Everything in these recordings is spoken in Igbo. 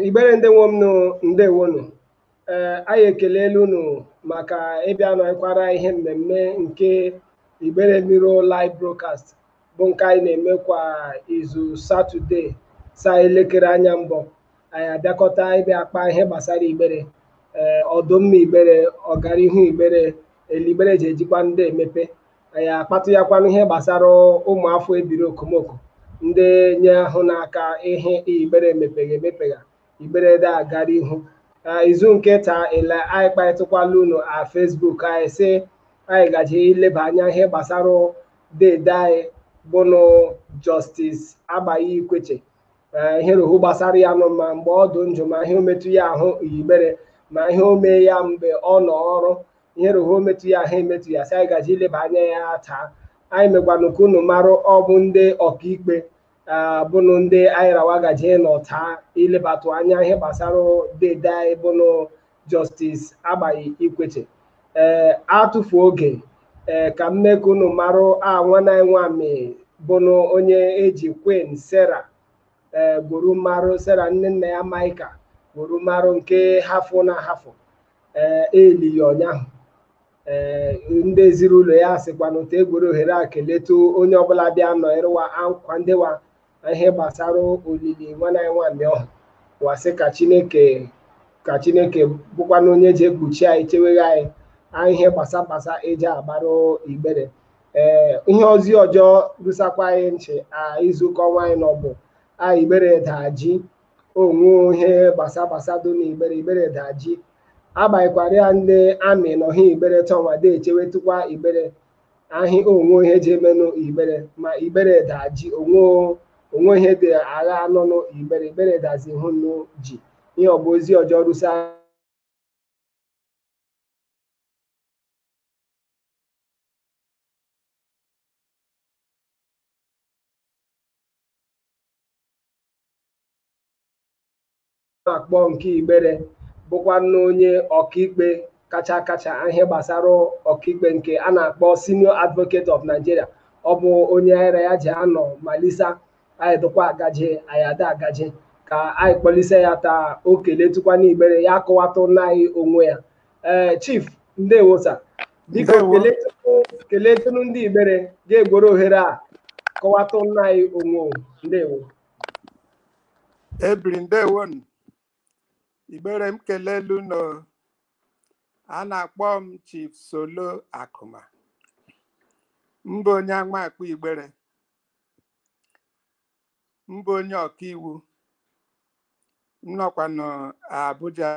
igbere ndị nwe m nụ ndewonu ee anyị ekelela unu maka ịbịa nọkwara anyị ihe mmemme nke igbere Mirror live broadcast bụ nke anyị na-eme kwa izu satọde saa elekere anya mbọ anyị abịakọta ịbịa akpa ihe gbasara igbere ee ọdụmma igbere ọganihu igbere ele igbere ji ejikwa ndị emepe anyị akpatụ ya kwanụ ihe gbasara ụmụafọ ebiri okomoko ndị nye ahụ n'aka ihe igbere emepegha emepegha igbere de agara ihu izu nke taa ele anyị kparịtụkwala unu a Facebook anyị sị anyị gaji ileba anya ihe gbasara dede anyị bụnụ Justice Agbai Ikwechegh ee ihe rohu gbasara ya nụ ma mgbe ọ dụ njụ ma ihe ometụ ya ahụ igbere ma ihe o mee ya mgbe ọ nọ ọrụ ihe rohu ometụ ya ahụ emetụ ya sị anyị gaji ileba anya ya taa anyị megwanụ ka unu marụ ọ bụ ndị ọkaikpe bụnụ ndị anyị ra wa gaji ịnọ taa ilebatụ anya ihe gbasara dede anyị bụnụ Justice Agbai Ikwechegh ee atụfu oge ee ka m mee ka unu marụ a nwanne anyị nwami bụnụ onye eji Queen Sarah ee gwuru marụ Sarah Nnennaya Maịka gwuru marụ nke hafụ na hafụ ee eli ya ụnyaahụ ee ndị ezinụlọ ya sịkwanụ ta egwere ohere a keletu onye ọbụla bịa nọịrịwa ankwa ndịwa na ihe gbasara olili nwanne anyị nwami ọhụ wa sị ka chineke ka chineke bụkwanụ onye ji ekpuchi anyị cheweghe anyị anyị ihe gbasa gbasa eji agbara igbere ee ihe ozi ọjọ rusakwa anyị nchị a izuụka ọnwa anyị nọ bụ a igbere daa ji onwe ihe gbasa gbasa dụ na igbere igbere daa ji agbanyekwara ya ndị army nọ ha igbere ta wa de echewetukwa igbere ahị onwe ihe ji emenụ igbere ma igbere daji onwe onwe ihe dị agha anọ nụ igbere igbere dazi hụ nụ ji ihe ọ bụ ozi ọjọ rusa na-akpọ nke Igbere bụkwanụ onye ọkaikpe kacha kacha ihe gbasara ọkaikpe nke a na-akpọ Senior Advocate of Nigeria ọ bụ onye anyị ra ya ji anọ malisa anyị dịkwa agaje anyị ada agaje ka anyị kpọlise ya taa o keletụkwanụ igbere ya kọwatụna anyị onwe ya ee eh, chief ndewo sa biko keletụnụ ndị igbere ga-egworo ohere a kọwatụna anyị onwe ndewo ebiri ndewonu igbere m kelelu unu a na-akpọ m chief solo akụma m bụ onye amakpo igbere m bụ onye ọkaiwu m nọkwanụ abuja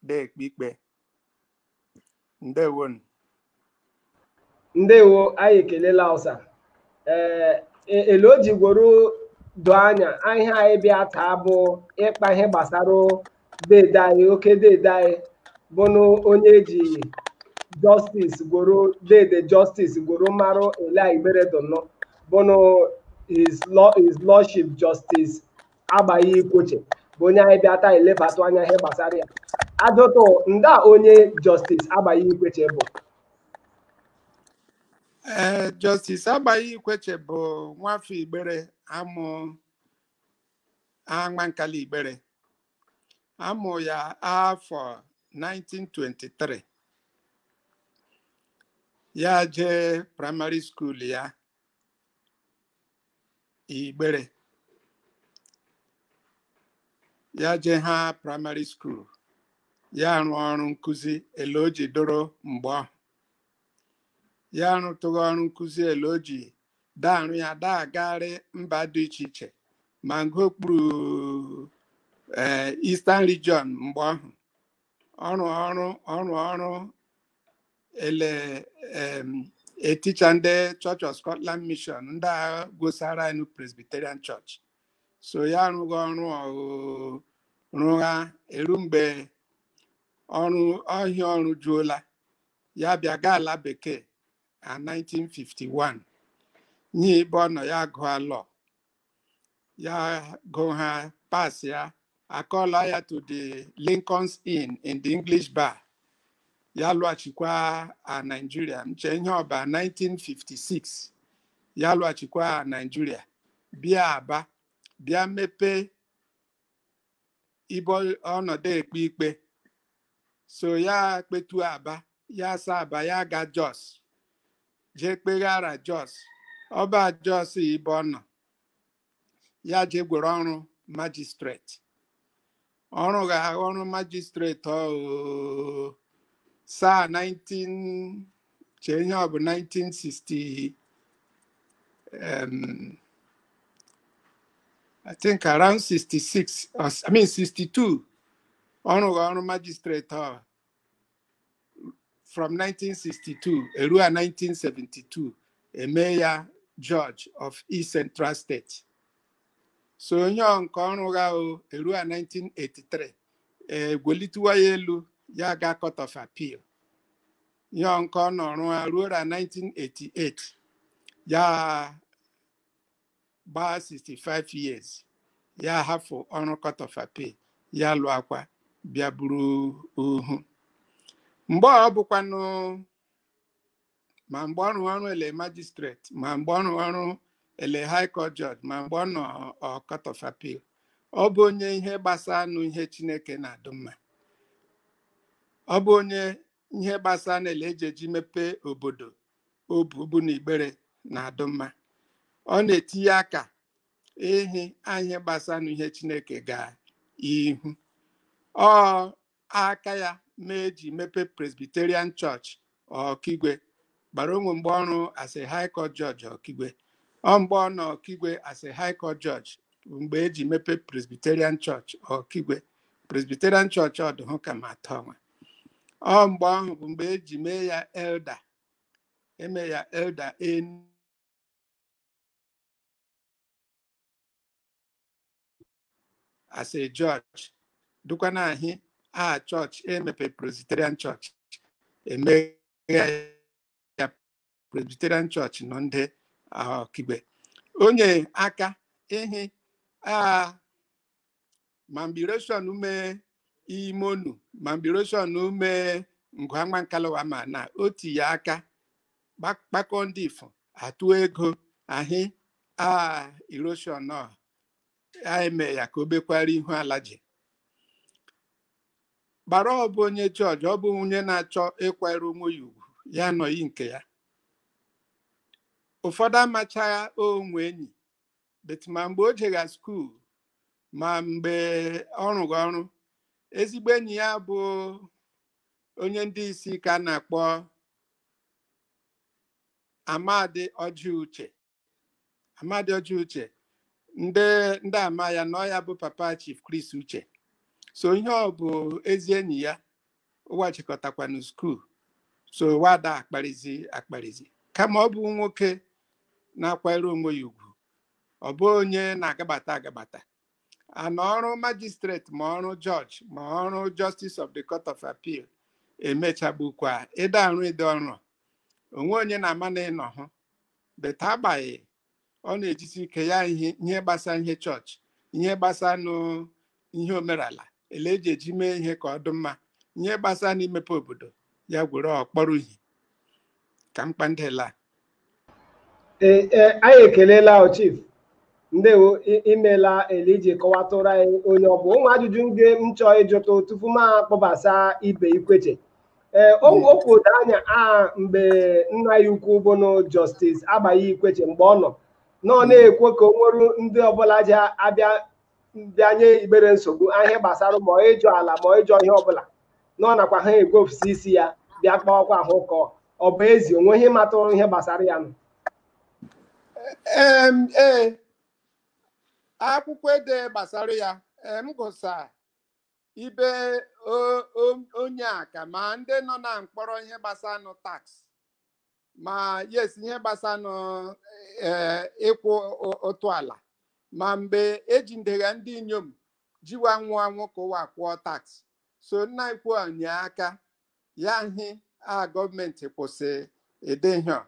na-ekpe ikpe ndewo ndewo anyị ekelela ọsa ee e, ele o ji gworo doo anya ihe anyị bịa taa bụ ịkpa ihe gbasara dede anyị oke dede anyị bụnụ onye e ji jọstis gworo dede jọstis gworo marụ ele igbere dụnụ bụnụ his lordship justice agbai ikwechegh bụ onye anyị bịa taa elebatụ anya ihe gbasara ya ajụtụ nda onye jọstis agbai ikwechegh bụ ee jọstis agbai ikwechegh bụ nwafọ igbere a mụ amankalu igbere a mụ ya afọ 1923 ya jee praịmarị skuul ya igbere ya jee ha praịmarị skuul ya rụọ ọrụ nkụzi ele o ji dụrụ mgbe ọhụ ya rụtụghị ọrụ nkụzi ele o ji da arụ ya da agagharị mba dị iche iche ma nke okpuru ee Eastern Region mgbe ọhụ ọ rụ ọrụ ọ rụ ọrụ ele em, eticha ndị Church of Scotland Mission ndị a gosara anyị Presbyterian Church so ya arụghị ọrụ ọhụ rụgha eru mgbe ọrụ ọhịa ọ rụjuola ya bịa gaa ala bekee na 1951 nye ebe ọ nọ ya gụọ lọ ya gụọ ha pass ya akọla ya to the Lincoln's Inn in the English bar ya lụghachikwa a Nigeria m che ihe ọ bụ a 1956 ya lụghachikwa a Nigeria bịa Aba bịa mepee ibe ọ nọ da ekpe ikpe so ya kpetụ aba ya asa aba ya ga jos jee kpeghara jos ọ bụ a jos ibe ọ nọ ya jee gwere ọrụ majistreti ọ rụgha ọrụ majistreti ọ saa 19 chee ihe a bụ 1960 um, I think around 66 or s- I mean 62 ọ rụgha ọrụ magistrate ọ from 1962 eruo 1972 eme ya judge of East Central State so ọ ihe nke ọ rụgha o eruo 1983 egwelitewa ya elu ya ga court of appeal ihe nke ọ nọ rụọ ruo na 1988 ya gbaa 65 years ya hafụ ọrụ court of appeal ya lụakwa bịa buru uhu mgbe ọ bụkwanụ ma mgbe ọ rụrụ ọrụ ele magistrate ma mgbe ọ rụrụ ọrụ ele high court judge ma mgbe ọ nọ court of appeal ọ bụ onye ihe gbasanụ ihe chineke na-adụ mma ọ bụ onye ihe gbasanụ ele eji eji mepee obodo o bu bụ na Igbere na-adụ mma ọ na-etinye aka ihe ihe gbasanụ ihe Chineke gaa ihu ọ aka ya ma eji mepee Presbyterian Church Ọkigwe gbara onwe mgbe ọ rụ as a high court judge ọkigwe ọ mgbe ọ nọ ọkigwe as a high court judge bụ mgbe eji mepee presbyterian church ọkigwe presbyterian church ọ dụhụ ka ma atọ nwa ọ mgbe ahụ bụ mgbe eji mee ya elder eme ya elder en as a judge dụkwa na ahị aha chọọchị emepe Presbyterian chọọchị emeghe ya Presbyterian chọọchị nọ ndị Ọkigwe onye aka ịhị a ma mgbe erosion ume imonu ma mgbe erosion ume ngwangwa nkalawa ma na o tinye aka kpakọ ndị ifo atụ ego ahị a erosion anyị mee ya ka o bekwara ihu ala ji gbara ọ bụ onye judge ọ bụ onye na-achọ ịkwara onwe ya ugwu ya nọyị nke ya ụfọdụ amachaghị o nwe enyi but ma mgbe o jega skuul ma mgbe ọ rụgha ọrụ ezigbo enyi ya bụ onye ndị isi ka a na-akpọ Amadi Ọjị Uche amadi ọjị uche ndị ndị ama ya na ọ ya bụ papa chief chris uche so ihe ọ bụ ezi enyi ya ụwa chịkọtakwanụ skuul so wada akparizi akparizi kama ọ bụ nwoke na-akwanyere onwe ya ugwu ọ bụ onye na-agabata agabata ana ọrụ magistrate ma ọrụ judge ma ọrụ justice of the court of appeal emechagbukwa ịda arụ ịdị ọrụ onwe onye na-ama na ịnọ hụ but agbai ọ na-ejisi ike ya ihe ihe gbasa ihe chọọchị ihe gbasanụ ihe omerala ele eji eji mee ihe ka ọ dị mma ihe gbasa n'imepe obodo ya igbere ọ kpọrọ ihe ka mkpa ndela Ee, ee, anyị ekelela o chief ndewo imela ele i ji kọwatụrụ anyị onye ọ bụ ụmụ ajụjụ ndị m chọọ ịjụtụ tupu m akpọbasa ibe ikweche ee okwu dụ anya a mgbe nna ya ukwu bụnụ justice agbai ikweche mgbe ọ nọ nọ na-ekwe ka o nwere ndị ọbụla ji abịa bịanye igbere nsogbu ihe gbasara ma ịjọ ala ma ịjọ ihe ọbụla nọ nakwa ha egwefụsi isi ya bịa kpawakwa ahụ ụkọ ọ bụ ezi o nwe ihe ị matụrụ ihe gbasara yanụ Em, ee akwụkwọ ede gbasara ya ee, m gụsa ibe o- o- o nye aka ma ndị nọ na mkpọrọ ihe gbasanụ tax ma yes ihe gbasanụ ee, ịkwụ ụ- ụtụ ala ma mgbe ejidegha ndị inyom ji wa nwụ anwụ ka ụwa kwụọ tax so nna ukwu o nye aka ya nhị a gọọmenti kwụsị ụdị ihe a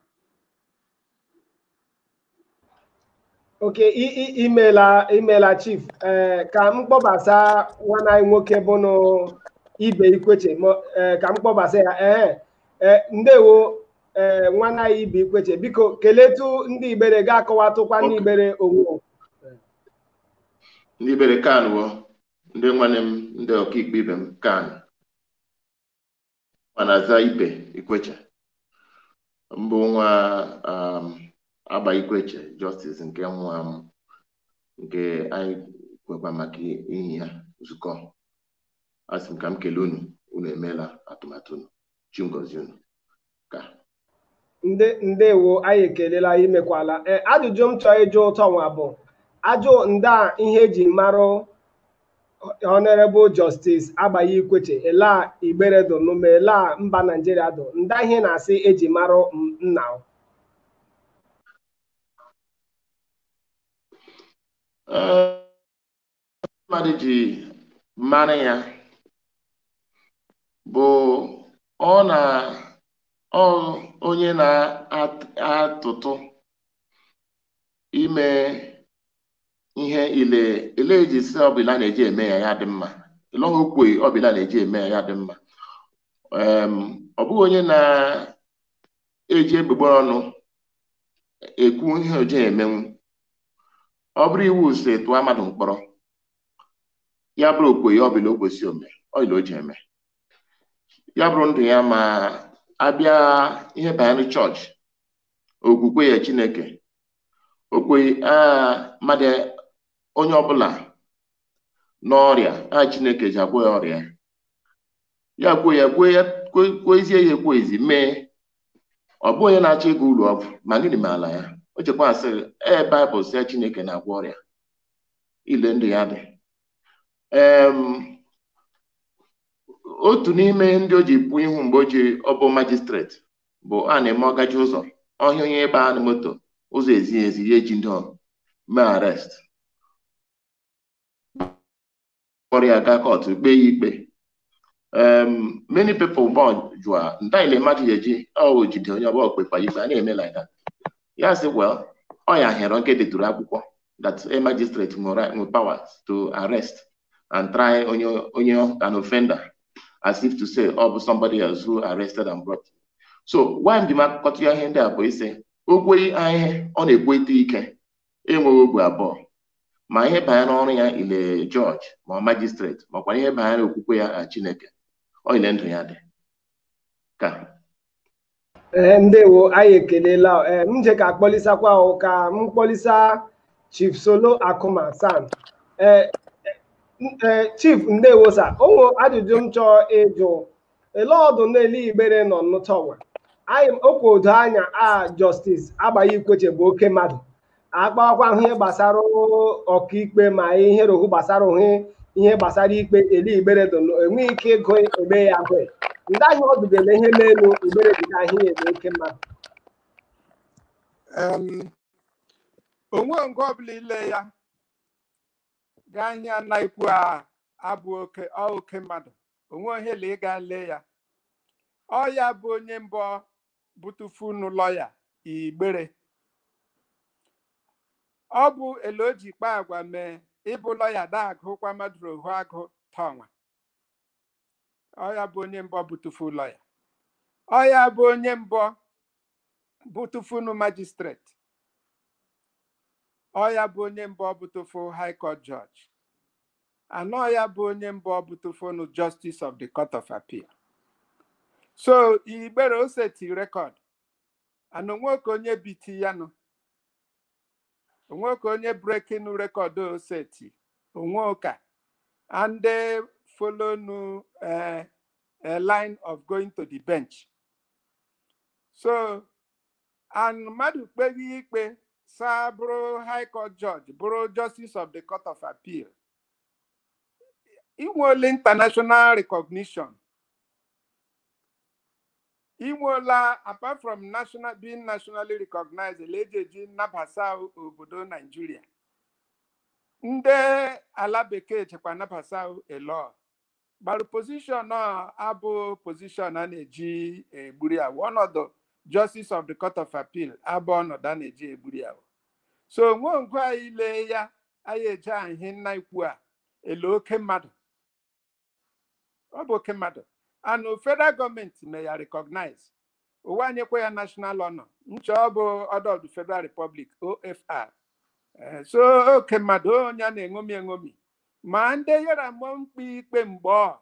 okay i- i- imela imela chief ee ka m kpọbasa nwanne anyị nwoke bụnụ ibe ikweche ma- ee, ka m kpọbasa ya ee ee ndewo ee nwanne anyị ibe ikweche biko keletụ ndị igbere ga-akọwatụkwa ndị Ok. igbere onwe ha. ndị igbere kanwo ndị nwanne m ndị ọkaikpe ibe m kan Mụwa na-aza Ibe Ikweche m bụ nwa um, Agbai Ikweche Justice nke nwụ anwụ nke anyị kwekwa maka ihi ya zukọ asị m ka m kelee unu unu emeela atụmatụ unu chi m gọzie unu ka ndị ndewo anyị ekelela imekwala ee ajụjụ m chọrọ ịjụtụ nwa bụ a jụọ nda ihe eji marụ honorable justice agbai ikweche ele igbere dụnụ ma ele mba naijiria dụ nda ihe ị na-asị eji marụ m- nna o. Eh, mmadụ ji mara ya bụ ọ na ọ onye na-atụtụ ime ihe ile ile eji si ọbụla na-eji eme ya ya dị mma ile ọha okwe ọbụla na-eji eme ya ya dị mma Em, ọ bụghị onye na-eji egbugbere ọnụ ekwu ihe o ji emenwu ọ bụrụ iwu sị tụọ mmadụ mkpọrọ ya bụrụ okwe ya ọbụla o kwesị ome ọyịla o ji eme ya bụrụ ndụ ya ma abịa ihe banyere chọọchị okwukwe ya chineke o kwe a mmadụ onye ọbụla n'ọrịa a chineke ji agwọ ya ọrịa ya kwuo ya kwuo ya kwuo ezie ya ekwuo ezi mee ọ bụghị onye na-achọ ịga ụlọ ọgwụ ma gịnị meela ya o chekwasịrị ee baịbụl sị chineke na-agwọ ọrịa ile ndụ ya dị otu n'ime ndị o ji pụ ihu mgbe o ji ọ bụ majistreti bụ a na-eme ọ gaje ụzọ ọ hụ onye ebe a na moto ụzọ ezighị ezi ya ejide mee arrest kpọrọ ya gaa kọtụ kpee ya ikpe um, many people born jụa nda ile mmadụ ya eji o jide onye ọbụla o kpekwa ikpe a na-eme like that ya sị well ọ ya hịrọ nke deturu akwụkwọ that a magistrate nwere nwe power to arrest and try onye onye an offender as if to say ọ bụ somebody else who arrested and brought so why m ji m akụkọtụ ya ihe ndị a bụ ịsị o kwe ihe ọ na-ekweta ike enweghị obi abụọ ma ihe banyere ọrụ ya ile jọji ma ọ majistreti makwa ihe banyere okwukwe ya na Chineke ọ ile ndụ ya dị ka ee ndewo anyị ekelela ee m je ka akpọlisakwa o ka m kpọlisa chief solo akụma san ee ee chief ndewo sa o nwere ajụjụ m chọọ ịjụ ele ọ dụ n'elu igbere nọ nnụtọwa anyị okwu odo anya a jọstis agbai ikwechegh bụ oke mmadụ akpawakwa ahụ ihe gbasara ọkaikpe ma ihe rohu gbasara ohe ihe gbasara ikpe ele igbere dụ na enweghị ike ịgụ ebe ya agụ ndị ahụ ọ dụgele ihe n'elu igbere dị ka ihe ebe oke mmadụ Em, o nwe nke ọbụla ile ya gaa nye ya na-ekwu a abụ oke ọ oke mmadụ o nwe ihe la ịga lee ya ọ ya bụ onye mbụ bụtụfu unu lọya igbere ọ bụ ele o ji kpa agwa mee ịbụ lọya da agụkwa mmadụ ohu agụ tọnwa ọ ya bụ onye mbọ bụtụfu lọya ọ ya bụ onye mbọ bụtụfunu majistreti ọ ya bụ onye mbọ bụtụfu high court judge and ọ ya bụ onye mbọ bụtụfunu justice of the court of appeal so igbere o seti rekọd and onweke onye biti ya nụ onweke onye breaking record o seti onwe ụka and ndị follow nu eh, a line of going to the bench so and mmadụ kpeghị ikpe saa bụrụ high court judge bụrụ justice of the court of appeal inwela international recognition inwela apart from national being nationally recognized ele eji eji nabasa obodo naijiria ndị ala bekee chekwa nabasa elo gbara position a abụ position a na-eji egburi awụ ọnọdụ justice of the court of appeal abụ ọnọdụ a na-eji egburi awụ so onwe ngwa anyị lee ya anyị eje ahị nna ikwu a ele oke mmadụ ọ bụ oke mmadụ and federal gọọmenti mee ya recognize ụwa anyekwa ya national honor nche ọ bụ order of the federal republic ofr Eh, so oke mmadụ onye a na-eṅomi eṅomi ma ndị yara mụọ mkpe ikpe mgbe ọ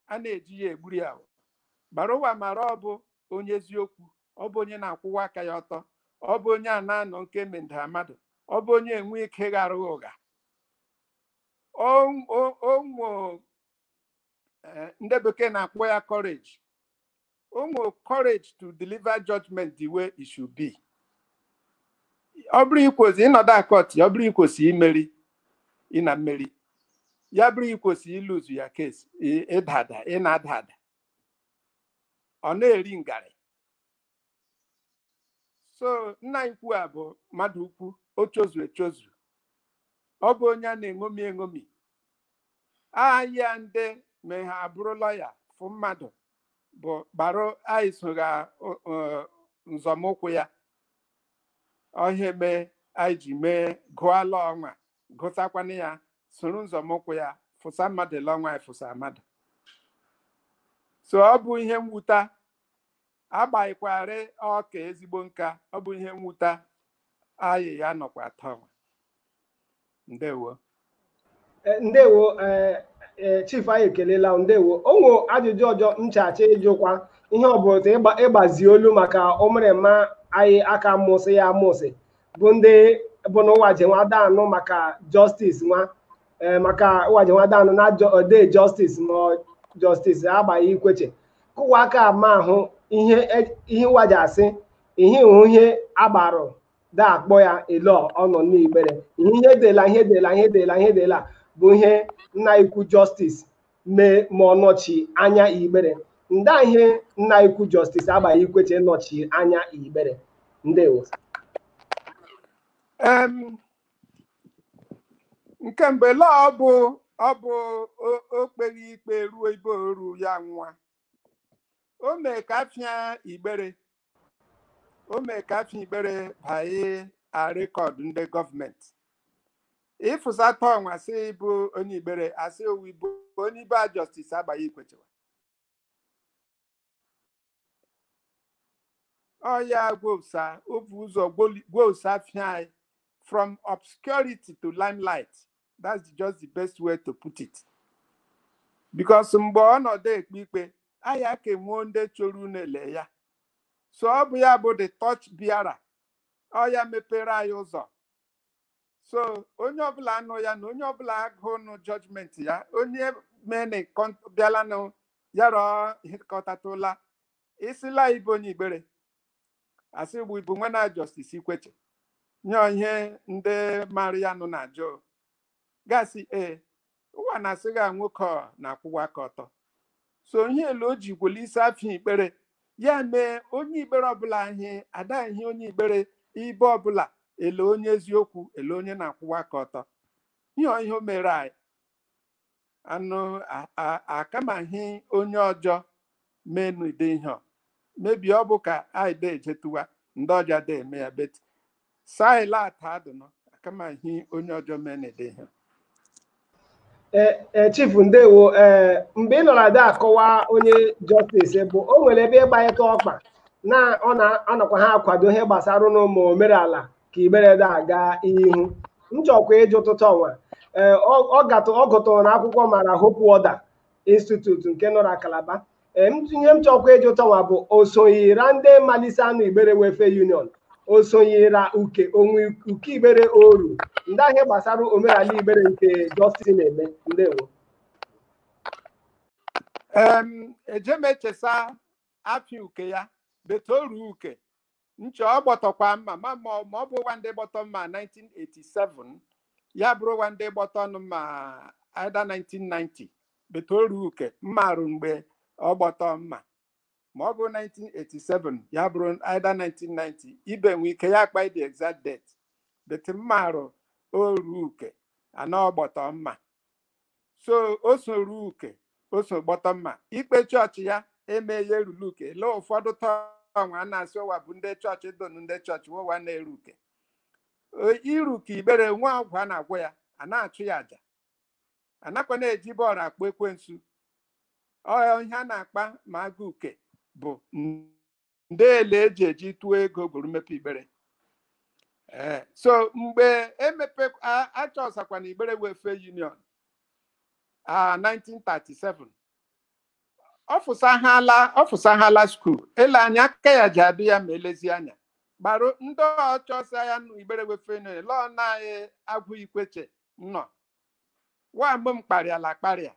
a na-eji ya egburi ya bara ụwa mara ọ bụ onye eziokwu ọ bụ onye na-akwụwa aka ya ọtọ ọ bụ onye a na-anọ nke mendara mmadụ ọ bụ onye enwe ike ghara ụgha onwe ihe ndị bekee na-akpọ ya courage onwe courage to deliver judgment the way it should be ọ bụrụ ikwosi ịnọdụ a kọt ọ bụrụ ikwosi imeri ịna-emeri ya bụrụ ikwosi iluzu ya kwesi ịda ada ịna-ada ada ọ na-eri ngarị so nna anyị ukwu a bụ mmadụ ukwu o chozu echozu ọ bụ onye a na-eṅomi eṅomi anyị a ndị mehaa bụrụ lọya fụ mmadụ bụ gbara anyị sogha nzọmụkwụ ya ọ ihe mee anyị ji mee gụọ law ọnwa gụsakwana ya soro nzọmụkwụ ya fụsa mmadụ ele ọnwa anyị fụsa mmadụ so ọ bụ ihe mwuta agbaghịkwarị ọka ezigbo nka ọ bụ ihe mwuta anyị ya nọkwa tawa ndewo Eh, ndewo eh, eh, chief anyị ekelela unu, ndewo o nwe ajụjụ ọjọ nchacha ịjụkwa ihe ọ bụla otu ịgba- ịgbazi olu maka ụmụrịma anyị a ka mụsị ya amụsị bụ ndị bụ n'ụwa je nwa da anụ maka justice nwa ee maka ụwaji nwadanụ na ode Justice ma Justice Agbai Ikwechegh kụwa aka ma ahụ ihe ihe ụwa ji asị ihe hụ ihe agbarụ da akpọ ya elo ọ nọ n'Igbere ihe ihe dela ihe dela ihe dela ihe dela bụ ihe nna ikwu Justice mee ma ọ nọchi anya Igbere nda ihe nna ikwu Justice Agbai Ikwechegh nọchi anya Igbere ndewo nke mgbe la ọ bụ ọ bụ o- o kpere ikpe ruo ibe oru ya nwa o mee ka afịa igbere o mee ka afịa igbere banye record ndị government ị fụsata ọnwa sị bụ onye igbere a sị o wu ị bụ onye ibe a Justice Agbai Ikwechegh wa ọ ya gwousa o bu ụzọ gwousa afịa anyị from obscurity to limelight that's the- just the best way to put it because mgbe ọ nọdụ ekpe ikpe anyị aka enwuo ndị choro unu ele ya so ọ bụ ya bụ the torch bearer ọ ya mepere anyị ụzọ so onye ọbụla anụ ya na onye ọbụla agụ nụ judgment ya onye mene bịalanụ ya rọọ hịkọtatụla ị sịla ị bụ onye Igbere a sị bụ ị bụ nwanna Justice Ikwechegh nye ihe ndị mara ya nụ na-ajụ gasị ee ụwa na-asị gị a nwoke ọ na-akwụwa aka ọtọ so ihe ele o ji gwele isi afịa Igbere ya mee onye Igbere ọbụla ihe ada ihe onye Igbere ibe ọbụla ele onye eziokwu ele onye na-akwụwa aka ọtọ ihe ọ ihe o mere anyị anụ a- a- akamaghị onye ọjọ menụ ụdị ihe ọ. maybe ọ bụ ka anyị da ejetuwa ndị ọjọ da eme ya but saịla ata adụnọ akamaghị onye ọjọ menụ ụdị ihe Eh, eh, chief ndewo eh, mgbe ị nọrọ ada akọwa onye justice bụ o nwere ebe ị gbanyeta ọkpa na ọ na-anọkwa ha akwado ihe gbasara ụlọ ma omerala ka Igbere da aga ihu m chọkwa ịjụ ụtụtụ ọnwa ee ọ gatụ ọ gụtụrụ na akwụkwọ mara Hope Waddell Institute nke nọ na Calabar ee ihe m chọkwa ịjụ tọnwa bụ o sonyira ndị malisa anụ Igbere Welfare Union o sonyira uke o nwe uke Igbere oru ndị ahị gbasara omenala Igbere nke Justice na-eme ndewo eje m echesa afịa uke ya but oru uke nche ọ gbọtọkwa mma ma ma ọ- ma ọ bụ ụwa ndị gbọtọ mma 1987 ya bụrụ ụwa ndị gbọtọnụ mma either 1990 but oru uke m marụ mgbe ọ gbọtọ mma ma ọ bụ 1987 ya bụrụ either 1990 ibe nwe ike ya akpa the exact date but m marụ oru uke anọ gbọtọ mma so o so ruo uke o so gbọtọ mma ikpe chọọchị ya emeghị eruru uke lee ụfọdụ taa nwa a na-asị ụwa bụ ndị chọọchị donu ndị chọọchị ụwa na-eru uke E- iru uke igbere nwa ọgwụ a na-agwọ ya a na-achụ ya aja anakwa na-eji bọọlụ akpọ ekwensu ọ ihe a na-akpa ma a ga uke bụ ndị ele eji eji tụọ ego gwuru mmepe igbere ee so mgbe emepe achọsakwana igbere welfare union a 1937 ọfụsaghala ọfụsaghala skuul ele anya aka ya ji adị ya ma elezi anya gbara ndị ọchọsa ya nụ igbere welfare union lọọ nna anyị agwu ikwechegh nnọọ nwa mgbe m kparịala akparịa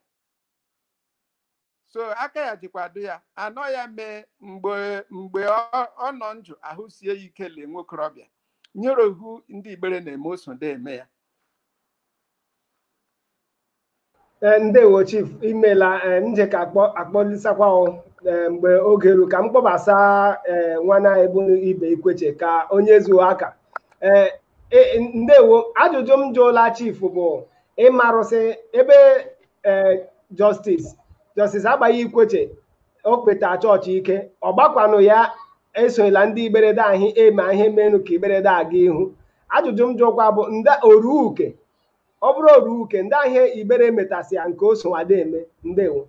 so aka ya jikwa dị ya anọ ya mee mgbe mgbe ọ ọ nọ njụ ahụ sie ya ike lee nwokorobịa nyere ohu ndị igbere na-eme o so de eme ya Ee, ndewo chief imela ee, nje ka akpọ akpọlisakwa o ee, mgbe oge ru ka m kpọbasa ee, nwanna anyị bụnụ ibe ikwechegh ka o nyezuo aka ee E, ndewo ajụjụ m jụla chief bụ ị marụ sị ebe e, justice justice agbai ikwechegh o kpeta chọọchị ike ọ gbakwanụ ya esola ndị igbere de ahụ eme ihe meenụ ka igbere de aga ihu ajụjụ m jụkwa bụ nda oru uke ọ bụrụ oru uke ndị ahịa igbere metasịa nke o so wa de eme ndewo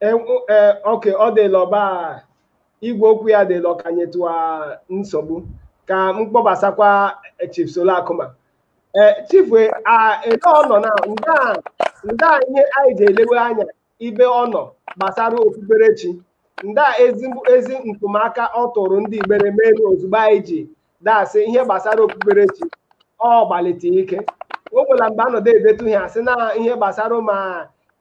E- o- e- okay ọ dịla ọba igwe okwu ya dịla ọ ka nyetụ ya nsogbu ka m kpọbasakwa chief solo akuma ee chief e- a ele ọ nọ na nda nda ihe anyị ji elewe anya ibe ọ nọ gbasara okpukperechi nda ezi ezi ntụmaka ọ tụrụ ndị igbere meenụ ozugbo anyị ji de asị ihe gbasara okpukperechi ọ gbalite ike o nwela mgbe anọdụ edetu ihe asị na ihe gbasara ma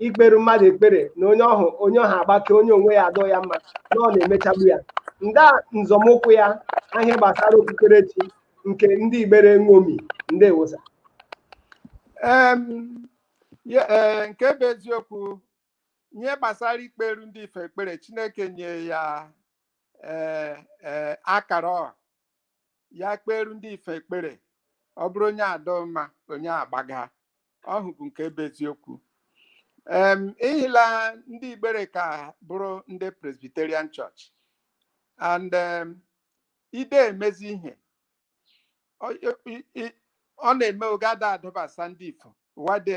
ikpere mmadụ ekpere na onye ọhụ onye ọha agbake onye onwe ya adọ ya mma na ọ na-emechagbu ya nda nzọmụkwụ ya na ihe gbasara okpukperechi nke ndị igbere ṅomi ndewo sir Em, Ya- ee, nke bụ eziokwu ihe gbasara ikperu ndị ife ekpere chineke nye ya ee, ee, akara ọ ya kperu ndị ife ekpere ọ bụrụ onye adọ mma onye agbaga ọhụ bụ nke bụ eziokwu em ihila ndị igbere ka bụrụ ndị presbyterian church and em, i de eme ezi ihe ọ na-eme oge ada adọbasa ndị ifo ụwa de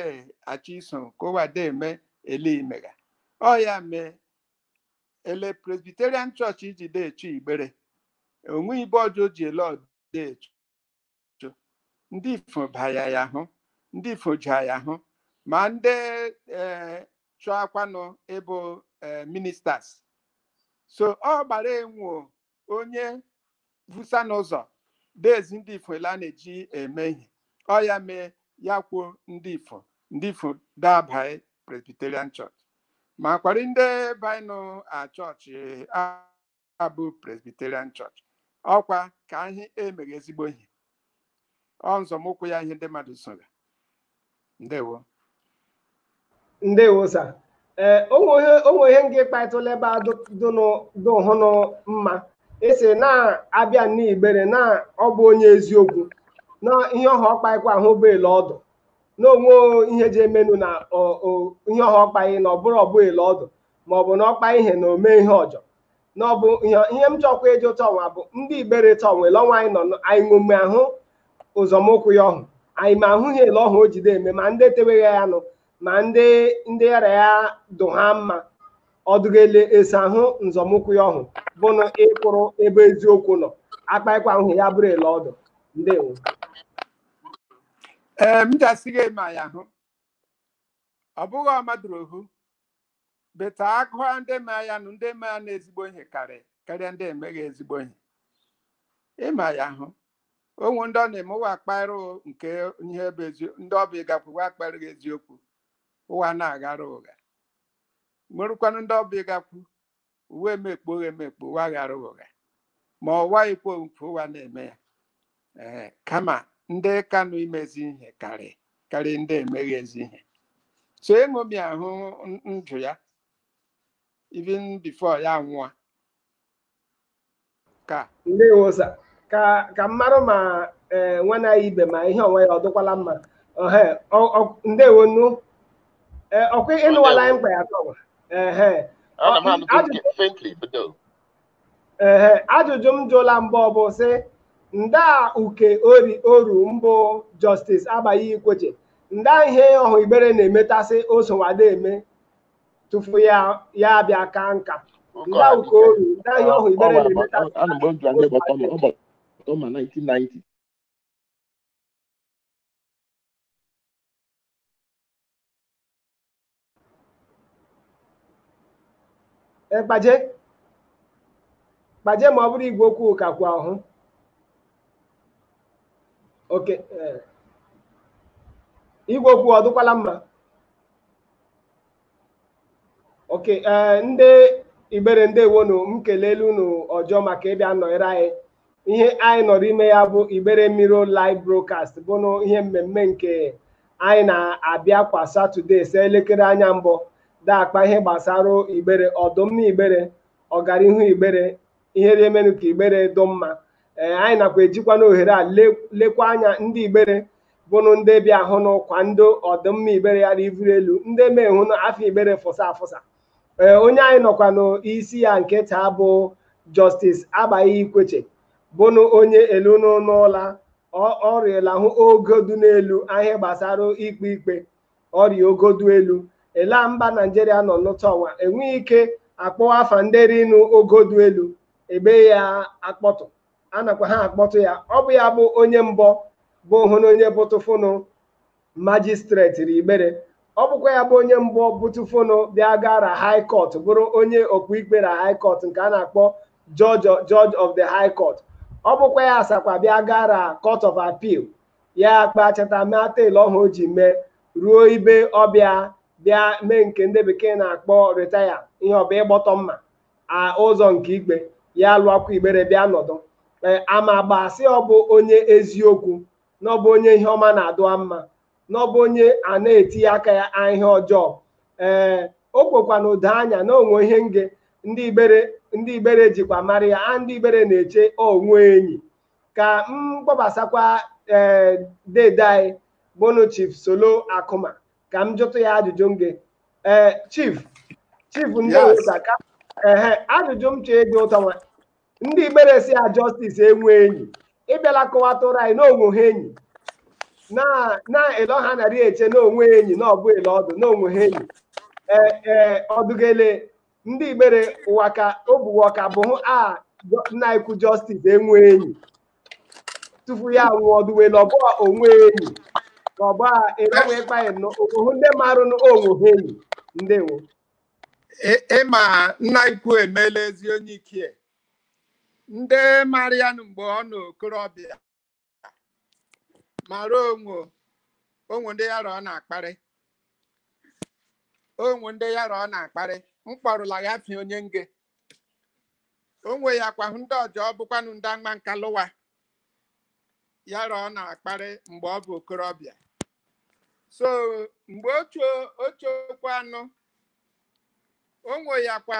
achọ iso ka ụwa de eme ele i mega ọ ya mee ele presbyterian church iji de echu igbere o nwe ibe ọjọọ ji ele ọ de echu ndị ifo baya ya hụ ndị ifo ji ya hụ ma ndị chọakwanụ ịbụ ministers so ọ gbara enwo onye vusa n'ụzọ de ezi ndị ifo ele a na-eji eme ihe ọ ya mee ya kwuo ndị ifo ndị ifo da abaị presbyterian church makwarị ndị baịnụ a chọọchị a- abụ presbyterian church ọkwa ka anyị emeghị ezigbo ihe ọ nzọmụkwụ ya ihe ndị mmadụ soga ndewo ndewo sa ee o nwe ihe nga ị kpatụla ebe a dụhụnụ mma esi na-abịa n'igbere na ọ bụ onye eziokwu na ihe ọhụ ọ kpaịkwa ahụ bụ ele ọ dụ na o nwe ihe ji emenụ na ihe ọhụ ọ kpaị na ọ bụrụ ọ bụ ele ọ dụ ma ọ bụ na ọ kpa ihe na o me ihe ọjọ na ọ bụ ihe ihe m chọkwa ịjụ tọnwa bụ ndị igbere tọnwa ele ọnwa anyị nọ nọ- anyị ṅome ahụ nzọmụkwụ ya ọhụ anyị me ahụ ihe ele ọhụ o ji de eme ma ndị teweghị ya nụ ma ndị ndị yara ya dụ ha mma ọ dụghị ele ese ahụ nzọmụkwụ ya ọhụ bụnụ ịkwụrụ ebe eziokwu nọ akpaịkwa ahụ ya bụrụ ele ọ dụ ndewo ee m ga-asị gị eme ya hụ ọ bụghị ọmadụrụ ohu beta agụa ndị ma ya nụ ndị ma ya na ezigbo ihe karịa karịa ndị emeghị ezigbo ihe ịma ya hụ o nwe ndị ọ na-eme ụwa akpaịrụ nke ihe bụ eziokwu ndị ọ bụ ị gakwu ụwa akpaịrụ gị eziokwu ụwa na-aghara ụgha nwerụkwanụ ndị ọ bụ ị gakwu ụwa emekpo ụgha emekpo ụwa ghara ụgha ma ọ waghịkwa nke ụwa na-eme ya ee kama ndị kanụ ime ezi ihe karị karị ndị emeghị ezi ihe so eṅomi ahụ n- ndụ ya even before ya nwụọ ka ndewo sa ka ka mmarụ ma ee nwana ya ibe ma ihe onwe ya ọ dịkwala mma ohe ọ- ọ- ndewonu ee ọkwa ịnụwala anyị mkpa ya tọwa ehe ana m anụtụ Ajụjụ- nke faintly but no ehe ajụjụ m jụla mbụ bụ sị nda uke ori oru mbụ jọstis Agbai ikweche nda ihe ọhụ igbere na-emetasị osowada eme tufu ya abịa ka nka ndị ahụ ka oru nda ihe ọhụ igbere na-emeta ana mgbe m jụrụ ndị gbata ma ọ gbata ma 1990 Eh, kpaje kpaje ma ọ bụrụ igwe okwu ka kwa ọhụ oke eh. igwe okwu ọ dụkwala mma oke ee eh, ndị igbere ndewonu m kelele unu ọjọ maka ịbịa nọnyere anyị ihe anyị nọrọ ime ya bụ igbere Mirror live broadcast bụnụ ihe mmemme nke anyị na-abịa kwa satọde se elekere anya mbụ daakpa ihe gbasara igbere ọdụmma igbere ọganihu igbere ihe rị emenụ ka igbere dụ mma ee anyị nakwa ejikwa n'ohere a lekwa anya ndị igbere bụnụ ndị bịahụnụ kwado ọdịmma igbere ya rị ivuru elu ndị mehụnụ afa igbere fụsa afụsa ee onye anyị nọkwa n'isi ya nke taa bụ Justice Agbai Ikweche bụnụ onye elu n'ụlọ ọ rịela hụ ogodu n'elu ihe gbasara ikpe ikpe ọ rịa ogodu elu ele mba naijiria nọ n'ụta ọnwa enweghị ike akpọwa afa ndị rinu ogodu elu ebe ya akpọtụ a nakwa ha akpọtụ ya ọ bụ ya bụ onye mbọ bụhụnụ onye bụtụfụnụ majistreti rị igbere ọ bụkwa ya bụ onye mbụ bụtụfụnụ bịa gara high court bụrụ onye okpuikpe na high court nke a na-akpọ judge of the high court ọ bụkwa ya asakwa bịa gara court of appeal ya kpachata mee teelụ ọhụ o ji mee ruo ibe ọ bịa bịa mee nke ndị bekee na-akpọ retaya ihe ọ bụ ịgbọtọ mma ụzọ nke ikpe ya lụọkwa igbere bịa nọdụ e, amagba sị ọ bụ onye eziokwu na ọ bụ onye ihe ọma na-adụa mma na ọ bụ onye a na-etinye aka ya ihe ọjọọ ee o kwekwa na ụda anya na o nwe ihe nge ndị igbere ndị igbere jikwa mara ya a ndị igbere na-eche o nwe enyi ka m kpọbasakwa ee dede anyị bụnụ chief solo akụma ka m jụtụ ya ajụjụ nge ee chief chief ndị Yes. ụta ka ehe ajụjụ m chọọ ịjụ ụtọ nwa ndị igbere sị ya justice enwe enyi ịbịala kọwatụrụ anyị na o nweha enyi na na ele ọha narị eche na o nwe enyi na ọ bụ ele ọ dụ na o nweha enyi ee ee ọdụgele ndị igbere ụwa ka ogbuwe ọka bụ hụ a nna ikwu jọstis enwe enyi tupu ya nwụọ ọ dụwele ọ bụ a onwe enyi ka ọ bụ a erenwe ịkpanye n'ohu ndị marụ nụ onwe enyi ndewo ị ma nna ikwu emeela ezi onye ike ndị mara ya mgbe ọ nọ okorobịa mara o nwe o nwe ndị ya rọ ọ na-akparị o nwe ndị ya rọ ọ na-akparị m kpọrụla ya fi onye nge o nweyakwa hụ ndị ọjọ bụkwanụ ndị agba nka lụwa ya rọ ọ na-akparị mgbe ọ bụ okorobịa so mgbe ocho ochokwa anụ o nweyakwa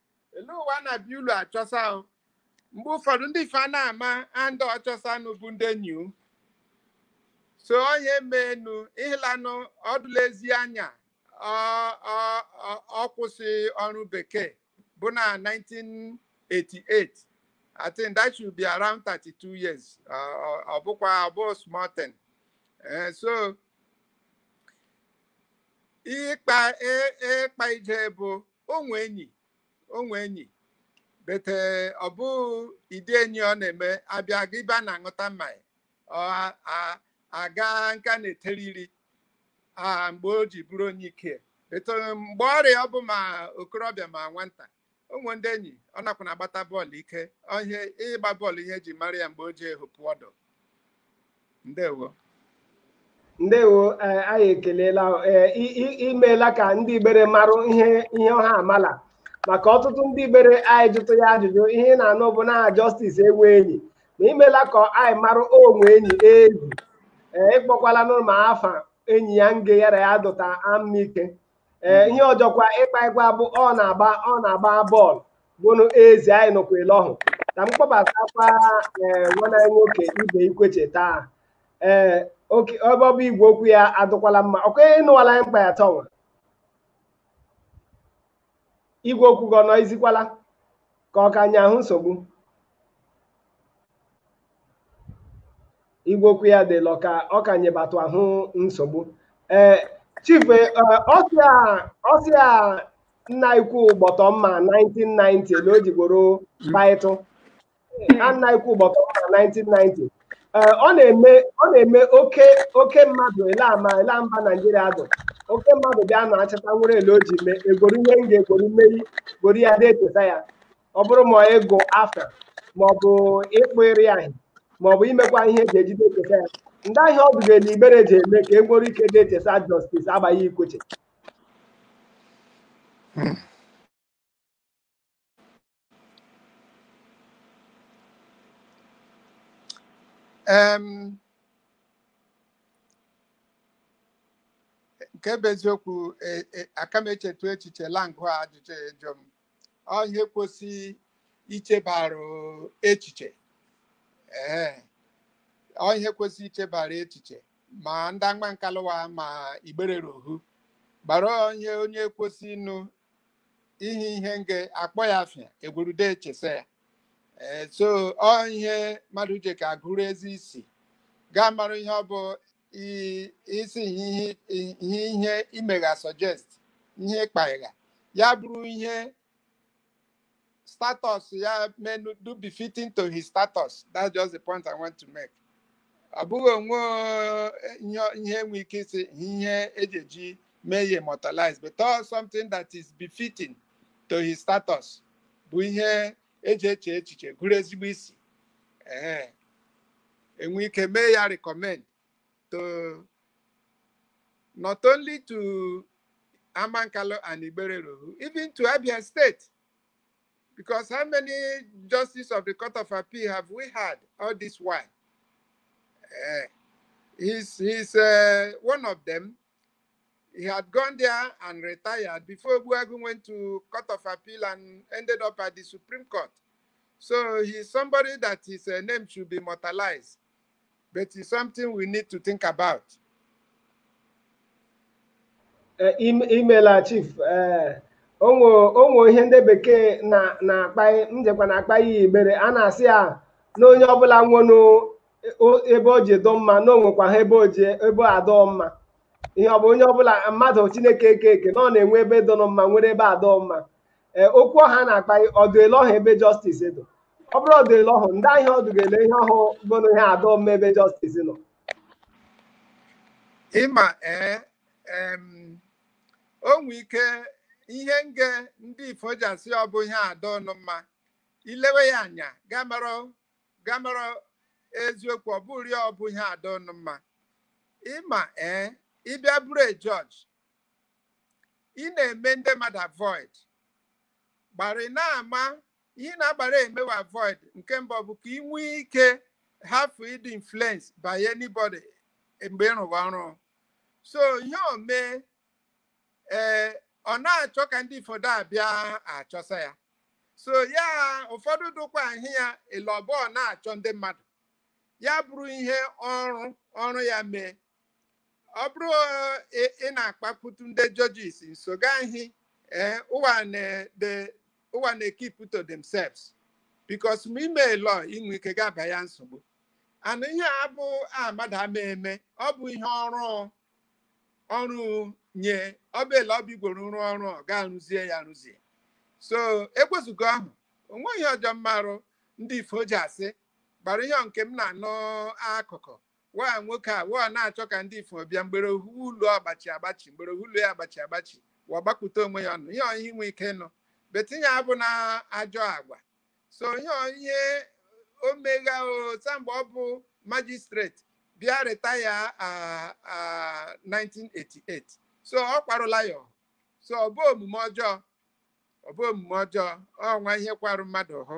ele ụwa na-abịa ụlọ achọsa o mgbe ụfọdụ ndị ife a na-ama ndị ọ chọsanụ bụ ndị enyi o. so onye menu ịhịlanụ ọ dụla ezi anya ọ- ọ- ọ- ọ kwụsị ọrụ bekee bụ na 1988 I think that should be around 32 years ọ ọ- ọ bụkwa ọ bụ small thing Eh, so ịkpa ị- ịkpa ije bụ o nwe enyi o nwe enyi but ọ bụ ịdị enyi ọ na-eme a bịa a gaa ebe a na-aṅụta mmanya ọ a- a- a gaa nke a na-etere iri a mgbe o ji bụrụ onye ike but mgbe ọrịa ọ bụ ma okorobịa ma nwata o nwe ndị enyi ọ nakwa na-agbata bọọlụ ike ọ ihe ịgba bọọlụ ihe eji mara ya mgbe o ji ehopụ ọdụ ndewo ndewo ee anyị ekelela ee i- i- imeela ka ndị igbere marụ ihe ihe ọha amala maka ọtụtụ ndị igbere anyị jụtụ ya ajụjụ ihe ị na-anụ bụ na jọstis enwe enyi ma imeela ka anyị marụ onwe enyi ezi ee ị kpọkwala nụ ma afa enyi ya nge ya ra ya dụta amike ee ihe ọjọkwa ịkpa ịgwa bụ ọ na-agba ọ na-agba bọọlụ bụnụ ezi anyị nụkwa ele ọhụ ka m kpọbatakwa ee nwanne anyị nwoke ibe ikweche taa ee okay ebe ọ bụ igwe okwu ya adụkwala mma ọ kwa ị nụwala anyị mkpa ya tọnwa igwe okwu gị ọ nọ izikwala ka ọ ka nye ahụ nsogbu igwe okwu ya dị lọ ka ọ ka nyebatụ ahụ nsogbu ee chief eh, ọsịa ọsịa nna ikwu ụgbọtọ mma 1990 na o ji goro baịtụ na nna ikwu ụgbọtọ mma 1990 ee ọ na-eme ọ na-eme oke oke mmadụ ele ama ele mba naijiria dụ oke mmadụ bịa na achịta nwere ele o ji mee egoro ihe m ga-egoro mmeri goro ya dị etesa ya ọ bụrụ ma ịgụ afa maọbụ ịkpụ ịrị ahị maọbụ imekwa ihe eji ejide echesa ya nda ihe ọ dụga na igbere ji eme ka e nwere ike dị echesa jọstis Abai Ikwechegh Em, nke bụ eziokwu e- e- aka m echetu echiche langụ a ajụjụ ya ịjụ m ọ ihe kwesịrị ichebara echiche ee ọ ihe kwesịrị ichebara echiche ma ndị Amankalu wa ma igbere rohu gbara onye onye kwesị ịnụ ihe ihe nge akpọ ya afịa egwerude echesa ya ee so ọ ihe mmadụ ji ka agụrụ ezi isi gaa mara ihe ọ bụ i- isi ihe ihe ihe ihe imegha suggest ihe ịkpagha ya bụrụ ihe status ya menu dụ befitting to his status that's just the point i want to make ọ bụghị onwe eh, ihe ihe enwe ike isi ihe eji eji mee ya immortalize but all something that is befitting to his status bụ ihe eji eche echiche gụrụ ezigbo isi ee enwe ike mee ya recommend to not only to Amankalu and Igbere rohu, even to Abia State. Because how many justices of the Court of Appeal have we had all this while? Eh, he's he's uh, one of them. He had gone there and retired before Ogbuagu went to Court of Appeal and ended up at the Supreme Court. So he's somebody that his uh, name should be immortalized. But it's something we need to think about. Uh, imela chief uh, onwe ihe ndị bekee na-akpa njekwa na-akpa ya igbere a na-asị ya na onye ọbụla nwere ebe o ji dụ mma na onwekwa ha ebe oji ebe adụ mma ihe ọ bụ onye ọbụla mmadụ chineke eke eke na ọ na-enwe ebe dụ mma nwere ebe adụ mma ee okwu ọha na-akpa ọ dụ ele ọhụ ebe jọstis dụ ọ bụrụ ọ dụ ele ọhụ nda ihe ọ dụ ga-ele ihe ọhụ bụrụ ihe adụ mma ebe jọstis nọ ịma ee o nwee ike ihe nge ndị ifo ji asị ọ bụ ihe adụnụ mma ilewe ya anya gaa mara gamara eziokwu ọ bụrụ ya ọ bụ ihe adụnụ mma ịma ee ịbịa bụrụ a judge ị na-eme ndị mmadụ avoid gbara ị na-ama ihe na-agbara emewe avoid nke mbụ bụ ka ị nwee ike hafụ ịdị influenced by anybody mgbe ị rụwa ọrụ so ihe o mee ee ọ na-achọ ka ndị fodo abịa achọsa ya so ya ụfọdụ dụkwa ahị ya elọbọ na-achọ ndị mmadụ ya bụrụ ihe ọrụ ọrụ ya mee ọ bụrụ eh, ị ị na-akpakwutu ndị judges nso ga-ahị eh, ụwa na- the- ụwa na-ekeep to themselves because ma ime lọ inwe ike ga-aba ya nsogbu and ihe a bụ a mmadụ ama eme ọ bụ ihe ọrụ ọrụ nye ọbụla ọbigworo rụọ ọrụ ọ ga arụzie ya arụzie so ewezuga ọhụ o nweghị ihe ọjọọ m marụ ndị ifo ji asị gbara ihe nke m na-anụ akụkọ wa nwoke a wa na-achọ ka ndị ifo bịa mgbere ohu ụlọ agbachi agbachi mgbere ohu ụlọ ya agbachi agbachi wa gbakpụta onwe ya ọnụ ihe ọhụ i nwe ike nụ but ihe abụ na ajọ agwa so ihe ọ- ihe o megha o sa mgbe ọ bụ magistrate bịa retire ah, ah, 1988 so ọ kwarụla ya ọhụ. so ọ bụ omume ọjọọ ọ bụ omume ọjọọ ọnwa ihe kwarụ mmadụ ahụ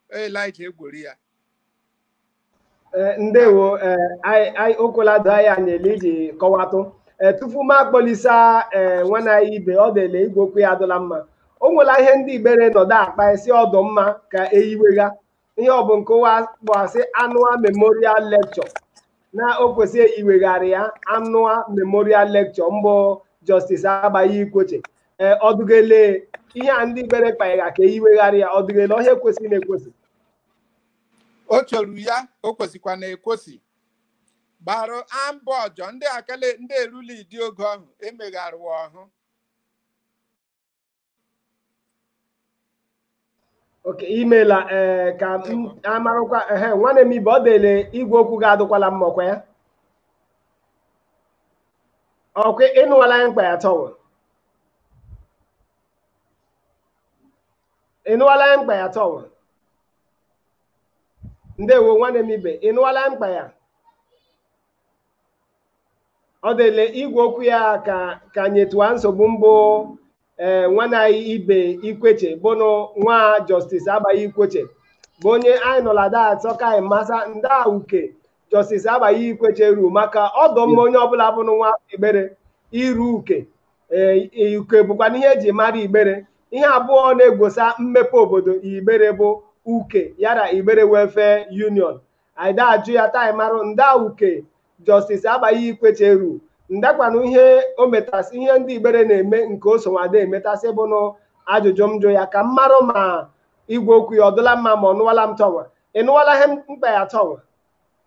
elija egwori ya Eh, ndewo eh, anyị anyị- o kwela doo anyị anya ele iji kọwatụ Eh, tupu m akpọlisa eh, nwanne anyị ibe ọ dịla igwe okwu ya adụla mma o nwela ihe ndị igbere nọdụ akpa sị ọ dụ mma ka eyiwegha ihe ọ bụ nke ụwa kpọasị annual memorial lecture na o kwesịrị iwegharị ya annual memorial lecture mbụ justice agbai ikwechegh ee ọdụgele ihe a ndị igbere kpaegha ka eyiwegharị ya ọdụgele ọhụ ekwesịrị na-ekwesị o chọrọ ya o kwesịkwa na ekwesị gbara ambọ ọjọọ ndị akele ndị erula idi oge ahụ emegharịwa ọhụ okay imela ee ka m marakwa ehe nwanne m ibe ọ dịle igwe okwu gị adụkwala mma ọkwa ya ọkwa ị nụwala ihe m kpa ya tọwa ị nụwala ihe m kpa ya tọwa ndewo nwanne m ibe ị nụwala m kpa ya ọ dịle igwe okwu ya ka ka nyetụwa nsogbu mbụ ee nwanne anyị ibe ikwechegh bụnụ nwa justice agbai ikwechegh bụ onye anyị nọla da achọ ka anyị masa nda uke justice agbai ikwechegh ru maka ọ dụ mma onye ọbụla bụnụ nwa afọ igbere iru uke ee uke bụkwanụ ihe eji mara igbere ihe abụọ na-egosa mmepe obodo igbere bụ uke yara igbere welfare union anyị da ajụ ya ta anyị marụ nda uke justice agbai ikwechegh ru ndakwanụ ihe o metasị ihe ndị igbere na-eme nke o sonwada emetasị bụnụ ajụjụ m jụ ya ka m marụ ma igwe okwu ya ọ dụla mma ma ọ nụwala m tọnwa ị nụwala ihe m kpa ya tọnwa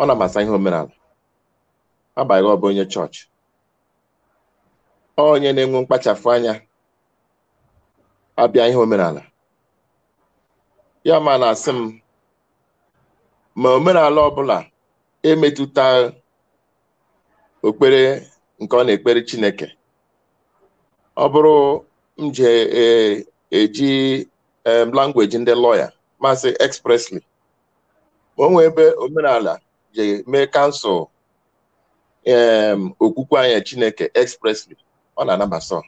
ọ na-amasa ihe omenala agbanyeghị ọ bụ onye chọọchị onye na-enwe mkpachapụ anya abịa ihe omenala ya ma na-asị m ma omenala ọbụla emetụta okpere nke ọ na-ekpere Chineke ọ bụrụ m ji eji em, language ndị lawyer m asị expressly ma o nwee ebe omenala ji mee cancel em, okwukwe anyị Chineke expressly ọ na-anabasa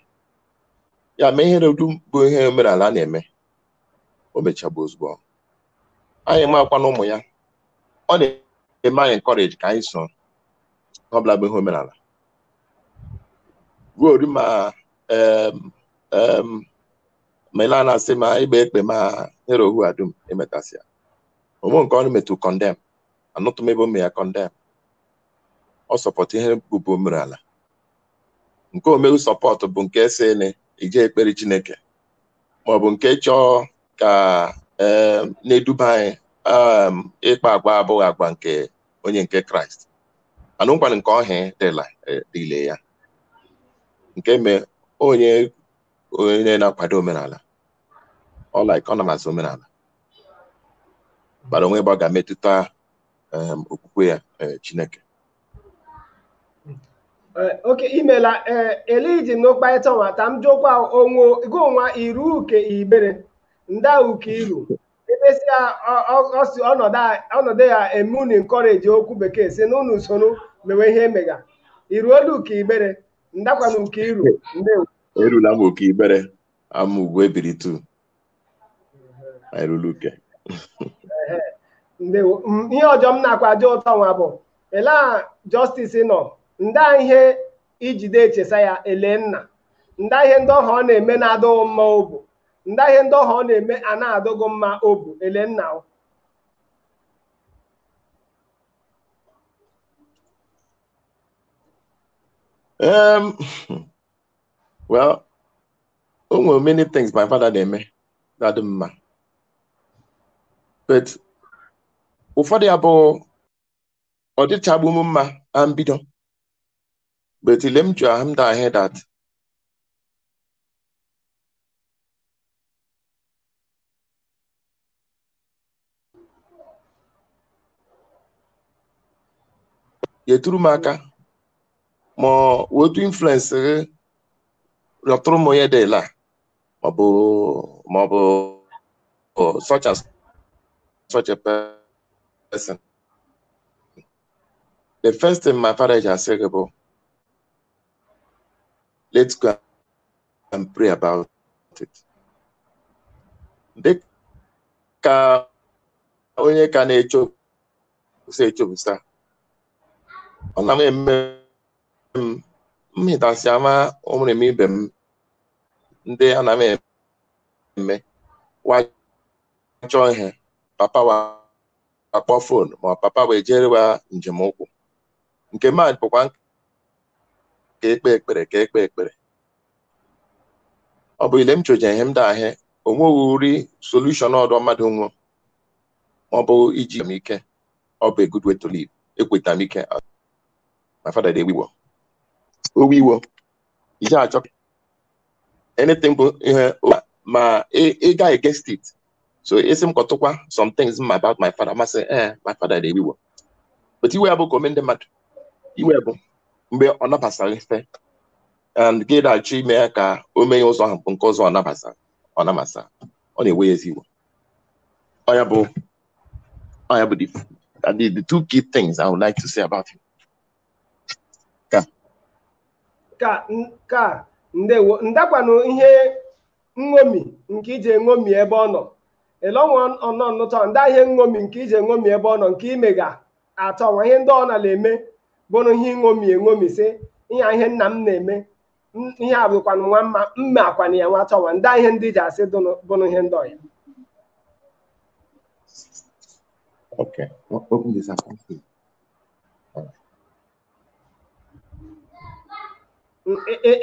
ya mee ihe dum bụ ihe omenala na-eme o mechabụ ozugbo anyị makwa na ụmụ ya ọ na-eme anyị encourage ka anyị so ọ bụla bụ ihe omenala ruo ma em, em, ma ị na-anasị ma ịgba ekpe ma ihe ohu a dum emetasịa o nwe nke ọ metụ condemn anụtụ m ebe o mere ya condemn ọ support ihe bụbu omerala nke o meghu support bụ nke si na iji ekpere Chineke maọbụ nke chọọ ka em, na-eduba anyị em, ịkpa agwa abụghị agwa nke onye nke Kraịst mana o nwekwara nke ọhịa dịla dịle ya nke mee onye onye na-akwado omenala ọ like ọ na-amasị omenala bara o nwe ebe ọ ga-emetụta em, okwukwe ya eh, Chineke Eh, okay imela ee eliji n'ụkparịta nwa ka m jụkwa onwe gị onwa iru uke Igbere nda uke iru emesịa ọ- ọ- ọ si ọnọdụ a- ọnọdụ ya eme unu encourage okwu bekee sị n'unu soro mewe ihe emega iru olu uke Igbere ndakwana uke iru ndewo erula m uke Igbere ama ugwu Ebiri tu anyị ruru uke ndewo M- ihe ọzọ m na-akwa ajụ ụtọ nwa bụ ele a Justice nọ nda ihe i jide echesa ya ele nna nda ihe ndị ọha ọ na-eme na-adị gị mma obu nda ihe ndị ọha ọ na-eme na-adị gị mma obu ele nna o Um, well, o nwere many things my father na-eme na-adị m mma but ụfọdụ ya bụ ọ dịchagbu m mma na mbido but ile m ju ahụ m da ahụ that yetụrụ m aka ma otu influence gị rịọtụrụ m onye dela maọbụ maọbụ such and such a person the first thing my father je asị gị bụ let's go and pray about it. Dị ka onye ka na-echo si echopụta ọ na m eme m mmịtasị ama ụmụrima ibe m ndị a na-eme wa chọọ ihe papa wa akpọ fon ma ọ papa wa ejere wa njem ụkwụ nke m abụkwa nk- ka e kpee ekpere ka e kpee ekpere ọ bụ ile m choje ihe m da ahịa o nweghịrị solution ọdọ mmadụ nwe ma ọ bụ iji m ike ọ bụ a good way to live ekweta m ike my father de-ewe iwe o iwe o iji achọ anything bụ ihe ma ị ga-eget it so ị sị m kọtụkwa some things ma about my father m asị ee eh, my father de-ewe iwe o but iwe ya bụ ka o me ndị mmadụ iwe bụ mgbe ọ nabasara ife and gị na-achọ ime ya ka o mee ụzọ ahụ bụ nke ụzọ ọ nabasara ọ nabasara ọ na-ewe ya ezigbo iwe ya bụ ọ ya bụ the the two key things I would like to say about him ka ka ka ndewo ndaa kwanụ ihe nṅomi nke ị ji eṅomi ebe ọ nọ elọnwa ọnọ nnụtọ ndaa ihe nṅomi nke ị ji eṅomi ebe ọ nọ nke ị mega atọ nwa ihe ndị ọ na-eme bụrụ ihe nṅomi eṅomi sị ihe a ihe nna m na-eme m- ihe a bụkwanụ nwa mma mma akwana ya nwa tọwa ndaa ihe ndị ji asị dụnụ bụrụ ihe ndị ọya Okay. O- Open this up.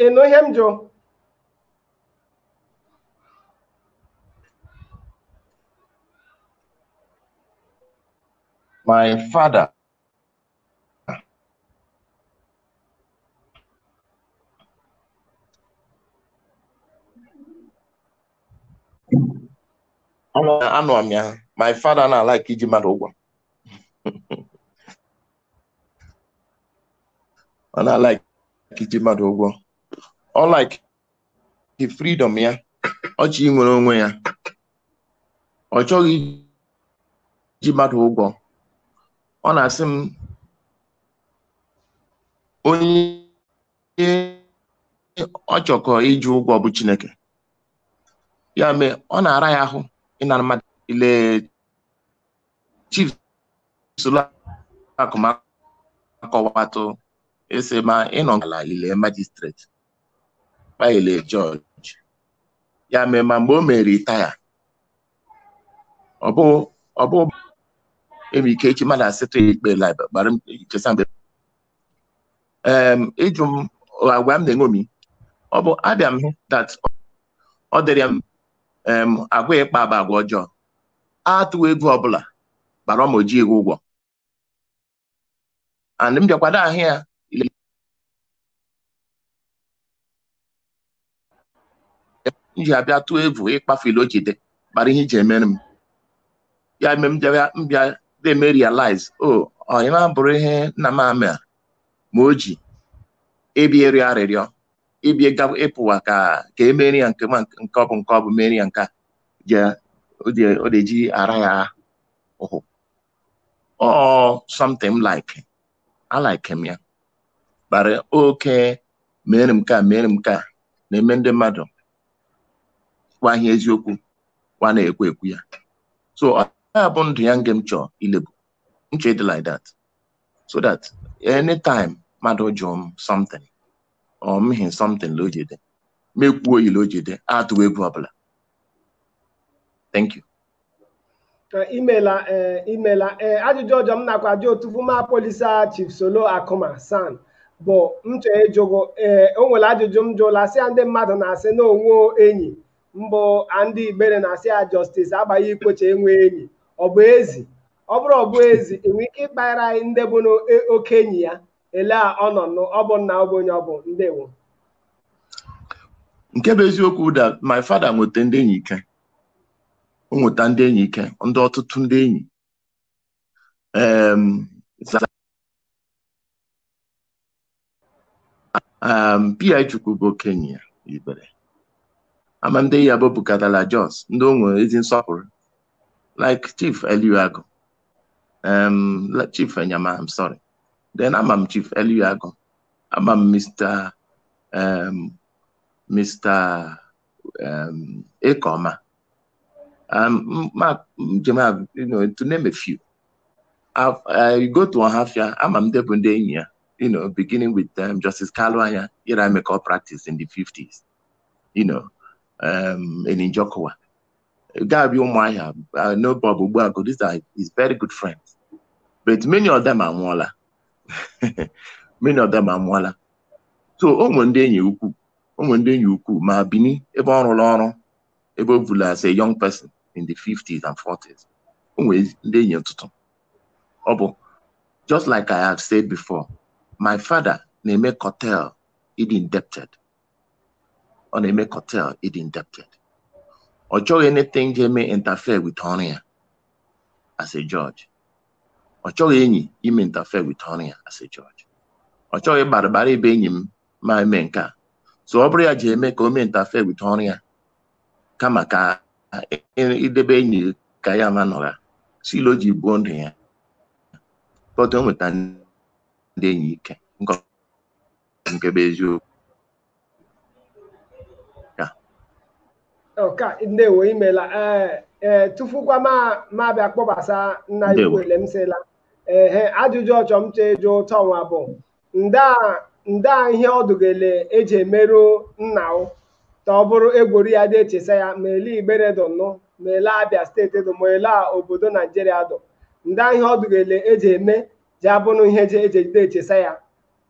ịnụ ihe m jụ my father anụ amị ahụ my father na-alike iji mmadụ ụgwọ ọ na-alaik iji mmadụ ụgwọ ọ like the freedom ya ọ chọ inwere onwe ya ọ chọghị iji mmadụ ụgwọ ọ na-asị m onye ọ chọkọ iji ụgwọ bụ Chineke ya mee ọ na-ara ya ahụ ịnara mmadụ ile chief Solo Akuma akọwatụ ese ma ịnọ n'ala ile magistrate ma ile judge ya mee ma mgbe o mere retire ọ bụ ọ bụ enwere ike echi mmadụ asịtụ ya ikpe lib gbara m chesa mgbe em ị jụ m agwa m na-eṅomi ọ bụ abịa m hụ that ọ dịrị ya m em agwa ịkpa bụ agwa ọjọọ atụ egwu ọbụla gbara ma o ji ego ụgwọ and m bịakwado ahụ ya m ji abịa tụọ egwu ịkpafu ile o ji dị bara ihe iji emere m ya eme m bịa na-eme realize o oh, ọyị na-abụrụ ihe nna m amịa ma o ji ebi ịrịọ arịrịọ ịbịa ịga- ịpụwa ka ka emeri ya nke ma nke ọ bụ nke ọ bụ meri ya nke a je o je- o na-eji ara ya ahụ or something like I like him ya bara oke mere m ka mere m ka na-eme ndị mmadụ kwa ihe eziokwu kwa na-ekwu ekwu ya so ọ bụ ndụ ya nge m chọọ ilebu m chọ ịdị like that so that anytime mmadụ jụọ m something or mee something la o ji dị mekwuo oyila o ji dị atụ egwu ọbụla thank you imela imela ee ajụjụ ọzọ m nakwa ajụ otu fuma polisa chief Solo Akuma SAN bụ m chọrọ ịjụgo ee o nwere ajụjụ m jụla sị ya ndị mmadụ na-asị na o nwe enyi mbụ ndị Igbere na-asị ya Justice Agbai Ikwechegh enwe enyi ọ bụ ezi ọ bụrụ ọ bụ ezi i nwe ike ịkpara anyị ndị bụ n'oke enyi ya ele a ọ nọ nụ ọ bụ nna ọ bụ onye ọ bụ ndewo nke bụ eziokwu that my father nweta ndị enyi ike o nweta ndị enyi ike ndị ọtụtụ ndị enyi um, za- um, P.I. Chukwu bụ okenye ya Igbere ama ndị ya bụ bukatala Jos ndị o nwere ezi nsọpụrụ like chief Eliu Agụ um, Chief Enyama, I'm sorry. Then I'm, I'm Chief Eliago. I'm, I'm Mr. Um, Mr. Um, Ekoma. Um, my, you know, to name a few. I've, I go to Ohafia, I'm a Mdebundenya, you know, beginning with um, Justice Kalwanya, here I make all practice in the 50s, you know, um, in Njokowa. ga-abịa ụmụahịa you know bob ogbuagu these are his very good friends but many of them anwụọla many of them anwụọla so o nwere ndị enyi ukwu o nwere ndị enyi ukwu ma bini ebe ọ rụrụ ọrụ ebe o bula as a young person in the 50s and 40s o nwere ndị enyi ọtụtụ ọ bụ just like i have said before my father na-eme curtail ịdị indebted ọ na-eme curtail ịdị indebted ọ chọghị anything ga-eme interfere with ọrụ ya as a judge ọ chọghị enyi ime interfere with ọrụ ya as a judge ọ chọghị gbarịgbara ebe enyi m ma eme nke a so ọ bụrụ ya ji eme ka o mee interfere with ọrụ ya kama ka idebe enyi ka ya ma nọra so ele o ji buo ndụ ya but o nweta ndị enyi ike nke bụ eziokwu okay ndewo imela ee ee tufukwa m abịa kpọbasa nna ukwu ele m sịla ehe ajụjụ ọjọ m chọ ịjụ ụtọ nwa bụ nda nda ihe ọ dụ gị ele e ji emerụ nna o ta ọ bụrụ egwori ya dị echesa ya ma ele igbere dụ nụ ma ele abịa steeti dụ ma ele a obodo naijiria dụ nda ihe ọdụgele eji eme ji abụnụ ihe eji eji ejide echesa ya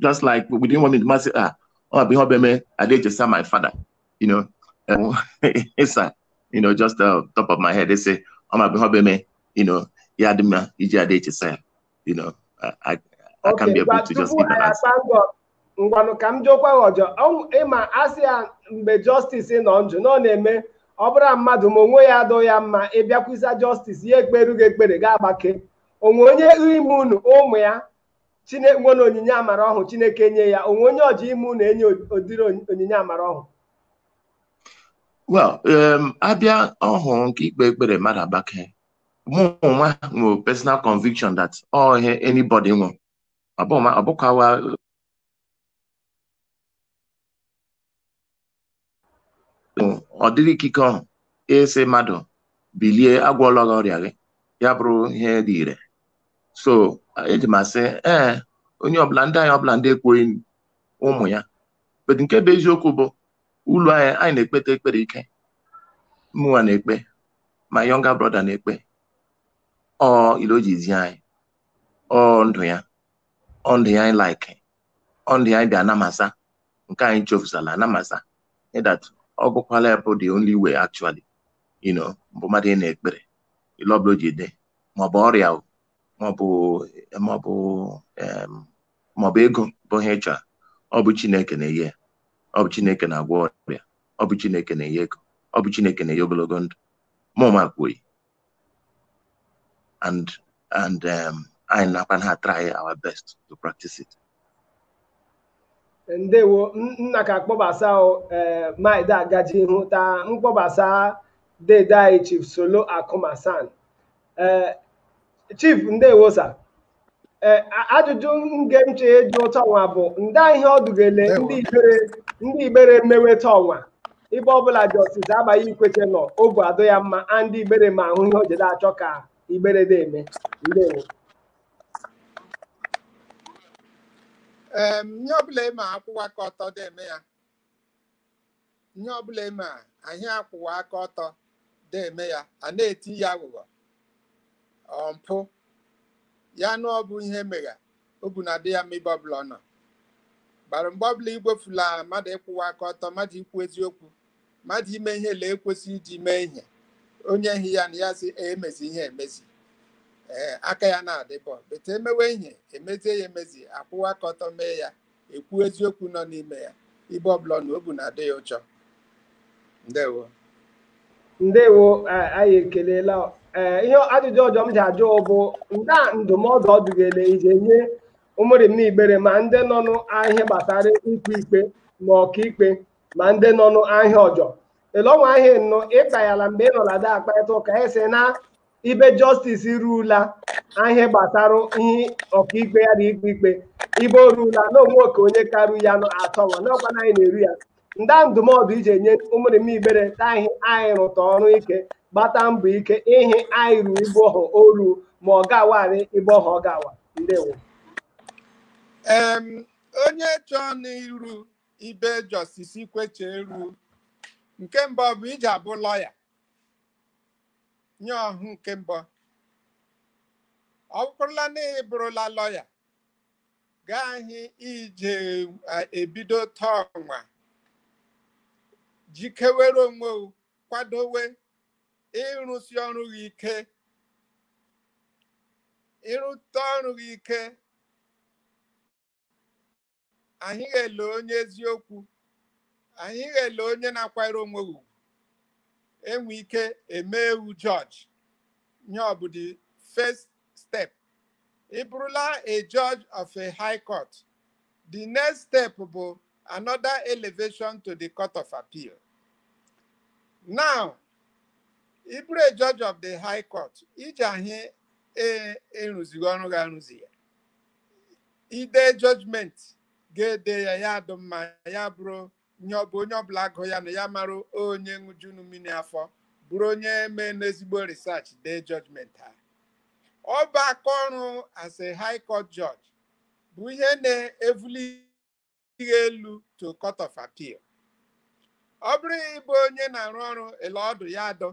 just like within one minute m asị ah ọ bụ ihe ọbịa mee a dị echesa my father you know it's a you know just uh, top of my head they say ọ ma bụ ihe ọbịa mee you know ya dị mma iji a dị echesa ya you know I, I, I can't be able to just give an answer. ngwanụ ka m jụọkwa gị ọjọ Ọ- ị ma a sị ya mgbe justice nọ njụ na ọ na-eme ọ bụrụ na mmadụ ma onwe ya adụ ya mma ị bịakwusa justice ya ekperu gị ekpere gị agbake o nwe onye ime unu ụmụ ya chine nwere onyinye amara ọhụ chineke nye ya o nwe onye ọjọ ime unu e nye ụdịrị onyi- onyinye amara ọhụ well um, a bịa ọhụ nke ikpe ekpere mmadụ agbake mụ nwa nwere personal conviction that ọ ihe anybody nwe ọ bụ ma ọ bụkwa wa ọ dịrị ikike ọhụ ịsị mmadụ bilie agwọọla gị ọrịa gị ya bụrụ ihe dị ire so eji m asị ee onye ọbụla ndị anyị ọbụla ndị ekwoghị ụmụ ya but nke bụ eziokwu bụ ụlọ anyị anyị na-ekpeta ekpere ike mụnwa na-ekpe my younger brother na-ekpe ọ ele o ji zi anyị ọ ndụ ya ọ ndụ ya anyị like ọ ndụ ya anyị bịa ana m asị nke anyị chọfụsala ana m asị that ọ bụkwala ya bụ the only way actually you know bụ mmadụ ị na-ekpere ile ọbụla o ji dị maọbụ ọrịa o, maọbụ maọbụ em, maọbụ ego bụ ihe ị chọrọ ọ bụ Chineke na-enye ya ọ bụ Chineke na-agwọ ọrịa ọ bụ Chineke na-enye ego ọ bụ Chineke na-enye ogologo ndụ mụ ma kwuo ya and and um, anyị nakwa a-try our best to practice it. ndewo nna ka kpọbasa eh, maịda agaji ihu ta m kpọbasa dede anyị chief solo Akuma SAN eh, chief ndewo sa ee ajụjụ nge m che eji ụtọ ọnwa bụ nda ihe ọ dị gị le ndị igbere mewe ta ọnwa ibe ọbụla jọstis Abai Ikwechegh nọ obu adị ya mma a ndị igbere ma ahụ ihe o jede achọ ka igbere de eme ndewo em ihe ọbụla eme akwụwa aka ọtọ dị eme ya ihe ọbụla eme a anyị akwụwa aka ọtọ de eme ya a na-eti ya aghụghọ ọ mpụ ya na ọ bụ ihe megha obu na adị ya mma ibe ọbụla ọ nọ gbara mgbe ọbụla igwefula mmadụ ịkwụwa aka ọtọ mmadụ ikwu eziokwu mmadụ ime ihe le e kwesị iji mee ihe onye hi ya na ya sị emezi ihe emezi ee aka ya na-adị bọ bete emewe ihe emezie ya emezi akwụwa aka ọtọ mee ya ekwu eziokwu nọ n'ime ya ibe ọbụla ọ nọ obu na-adị ya ụchọ ndewo ndewo eh, anyị ekelela eh, ihe ajụjụ ọjọ m ji ajụ bụ nda ndụmọdụ ọ dị gị le i je enye ụmụrịma igbere ma ndị nọ n'ahịa gbasara ikpe ikpe ma ọkaikpe ma ndị nọ n'ahịa ọjọ elọnwa ahịa nọ ịkpa ya la mgbe ị nọla da akparịta ụka esi na ibe jọstis rula ihe gbasara ihe ọkaikpe ya na ikpe ikpe ibe o rula na o nwe oke onye karu ya nọ atọ nwa n'ọkwa na anyị na-eru ya nda ndụmọdụ i ji enye ụmụrịma igbere ta ihe anyị rụta ọrụ ike gbata mbọ ike ihe anyị ru ibe ọhụ o ru ma ọ ga-awarị ibe ọhụ ọ ga-awa ndewo Em, onye chọọ n'iru ibe jọstis Ikwechegh ru nke mbụ bụ i ji abụ lọya nye ọhụ nke mbụ ọ bụkwụrụla na ị bụrụla lọya gaghị ije eh, ebido taa ọnwa jikewere onwe gị, kwadowe ịrụsi ọrụ gị ike ịrụta ọrụ gị ike anyị ga-ele onye eziokwu anyị ga-ele onye na-akwanyere onwe ha ugwu enwe ike eme ewu judge ihe ọ bụ the first step ị bụrụla a judge of a high court the next step bụ another elevation to the court of appeal now ị bụrụ a judge of the high court iji ahị ịrụzighị ọrụ gị arụzi ya i dee judgment ga-ede ya ya adụ mma ya bụrụ ihe ọ bụ onye ọbụla agụ ya nụ ya mara onye ṅụjunu mmiri afọ bụrụ onye meenụ ezigbo research dee judgment ha ọ bụ aka ọrụ as a high court judge bụ ihe na-evuli gị elu to court of appeal ọ bụrụ ị bụ onye na-arụ ọrụ ele ọ dụ ya adụ